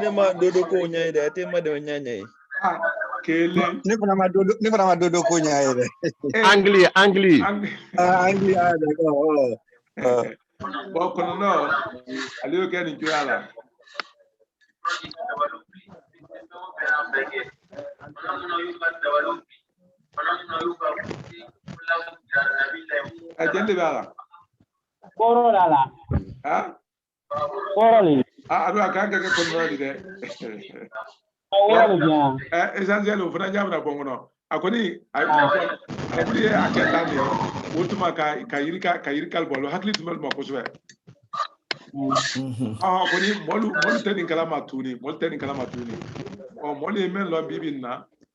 ne ma dodo ko ɲɛ ye dɛ a tɛ ma dɛmɛ ɲɛ ɲɛ ye ah, kelen ne fana ma dodo ne fana ma dodo ko ɲɛ ye dɛ angle eh. angle angle ah, ah d'accord oh. bon kɔnɔntɔ ale y'o kɛ nin cogoya la a jeli de b'a la kɔrɔ la la wɔrɔli. a don a ka kan ka kɛ koori di dɛ. wɔrɔli bien. ɛ essentiel o fana ɲamina bɔ n kɔnɔ a kɔni a ye a kɔni ye a kɛ tan de ye o tuma ka ka yiri ka ka yirika alu bolo hakili tun bɛ olu ma kosɛbɛ. ɔ kɔni mɔɔlu mɔɔlu tɛ nin kalama tuguni mɔɔlu tɛ nin kalama tuguni ɔ mɔɔlu ye mɛn lɔn bi bi nin na.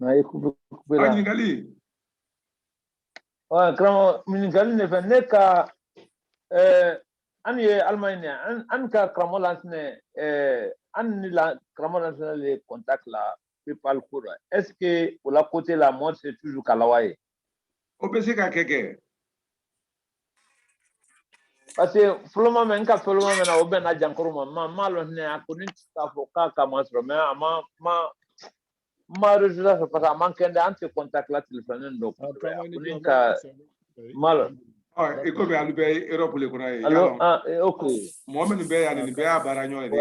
N'a ye kupe kupe la. Ɲininkali. Wa karamɔgɔ ɲininkali ne fɛ ne ka ɛɛ an ye Allemagne de an an ka karamɔgɔ Lansinɛ ɛɛ an ni la karamɔgɔ Lansinɛ le contact la PayPal ko rɔ est ce que o la côté la mɔɔ se toujours k'a lawa yen. O bɛ se ka kɛ kɛ. Parce que fɔlɔma mɛn n ka fɔlɔma mɛn na o bɛnna jankaro ma ma m'a lɔn hinɛ a kɔni t'a fɔ k'a k'a masɔrɔ mais a ma ma ma résultat sɔrɔ parce que a man kɛndɛ an tɛ contact la téléphone dɔ kosɛbɛ a ko ne ka m'a lɔn i komi alu bɛɛ ye Europe le kɔnɔ ye allô ah ok mɔgɔ minnu bɛ yan nin bɛɛ y'a baaraɲɔgɔn le di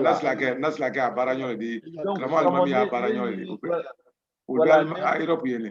nasilakɛ nasilakɛ a baaraɲɔgɔn le di karamɔgɔ Alimami y'a baaraɲɔgɔn le di olu bɛɛ a Europe yen ne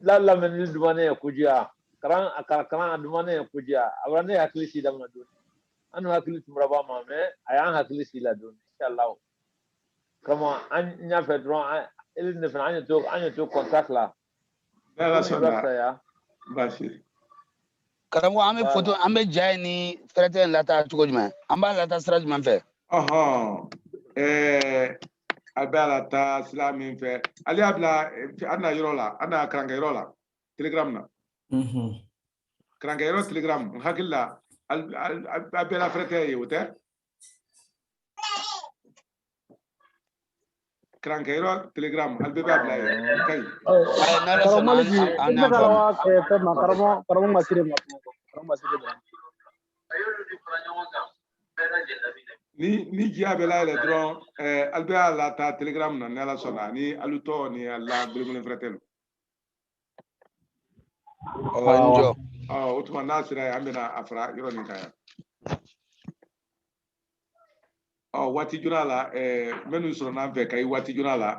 la lamɛnni dumani ye kojuya karan a kara karan a dumani ye kojuya a bara ne hakili sigi daminɛ dɔɔni annu hakili tun bara b'a ma mais a y'an hakili sigi la dɔɔni inshallah karamɔgɔ an y'a fɛ dɔrɔn an ile ne fana an ye to an ye to contact la N'Ala Ni sɔnna barisa ya baasi karamɔgɔ an bɛ Voilà. foto an bɛ ja in ni fɛrɛtɛ in lataa cogo jumɛn an b'a lataa sira jumɛn fɛ ɔhɔn ɛɛ alu bɛ a lataa sira min fɛ alu y'a bila an na yɔrɔ la an na karankɛ yɔrɔ la telegram na karankɛ yɔrɔ telegram n hakili la a bɛɛ la fɛrɛtɛ ye o tɛ karankɛ yɔrɔ telegram alu bɛɛ b'a bila ye ka ɲi karamɔgɔ ma siri ma karamɔgɔ ma siri ma ni jiya bɛ layɛlɛ dɔrɔn ɛɛ alu bɛ a lataa telegram na ni ala sɔnna ni alu tɔ ni alu la gbelengbelen fɛrɛtɛ lu Awa n jɔ. ɔ o tuma n'a sera yen an bɛna a fara yɔrɔ nin kan yan ɔ waati joona la ɛɛ minnu sɔrɔ n'an fɛ kayi waati joona la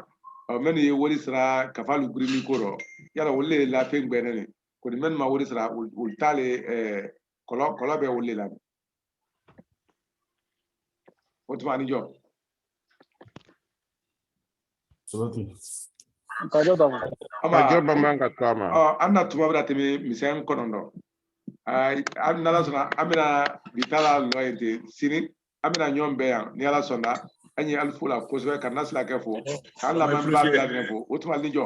ɔ minnu ye wari sara kafa lu gbirindi ko rɔ yala olu le la fɛn gbɛnnen de kɔni minnu ma wari sara olu olu t'ale ɛɛ kɔlɔ kɔlɔ bɛ olu le la O tuma ni jɔ. Kajo dɔ ma. Kajo dɔ man ka to a ma. An na tuma bada tɛmɛ misɛn kɔnɔntɔn. N'ala sɔnna an bɛna bi ta lalɔ yen ten sini an bɛna ɲɔgɔn bɛn yan ni ala sɔnna an ye alu fo la kosɛbɛ ka na sira kɛ fo k'an lamɛnbaa bɛɛ fo o tuma ni jɔ.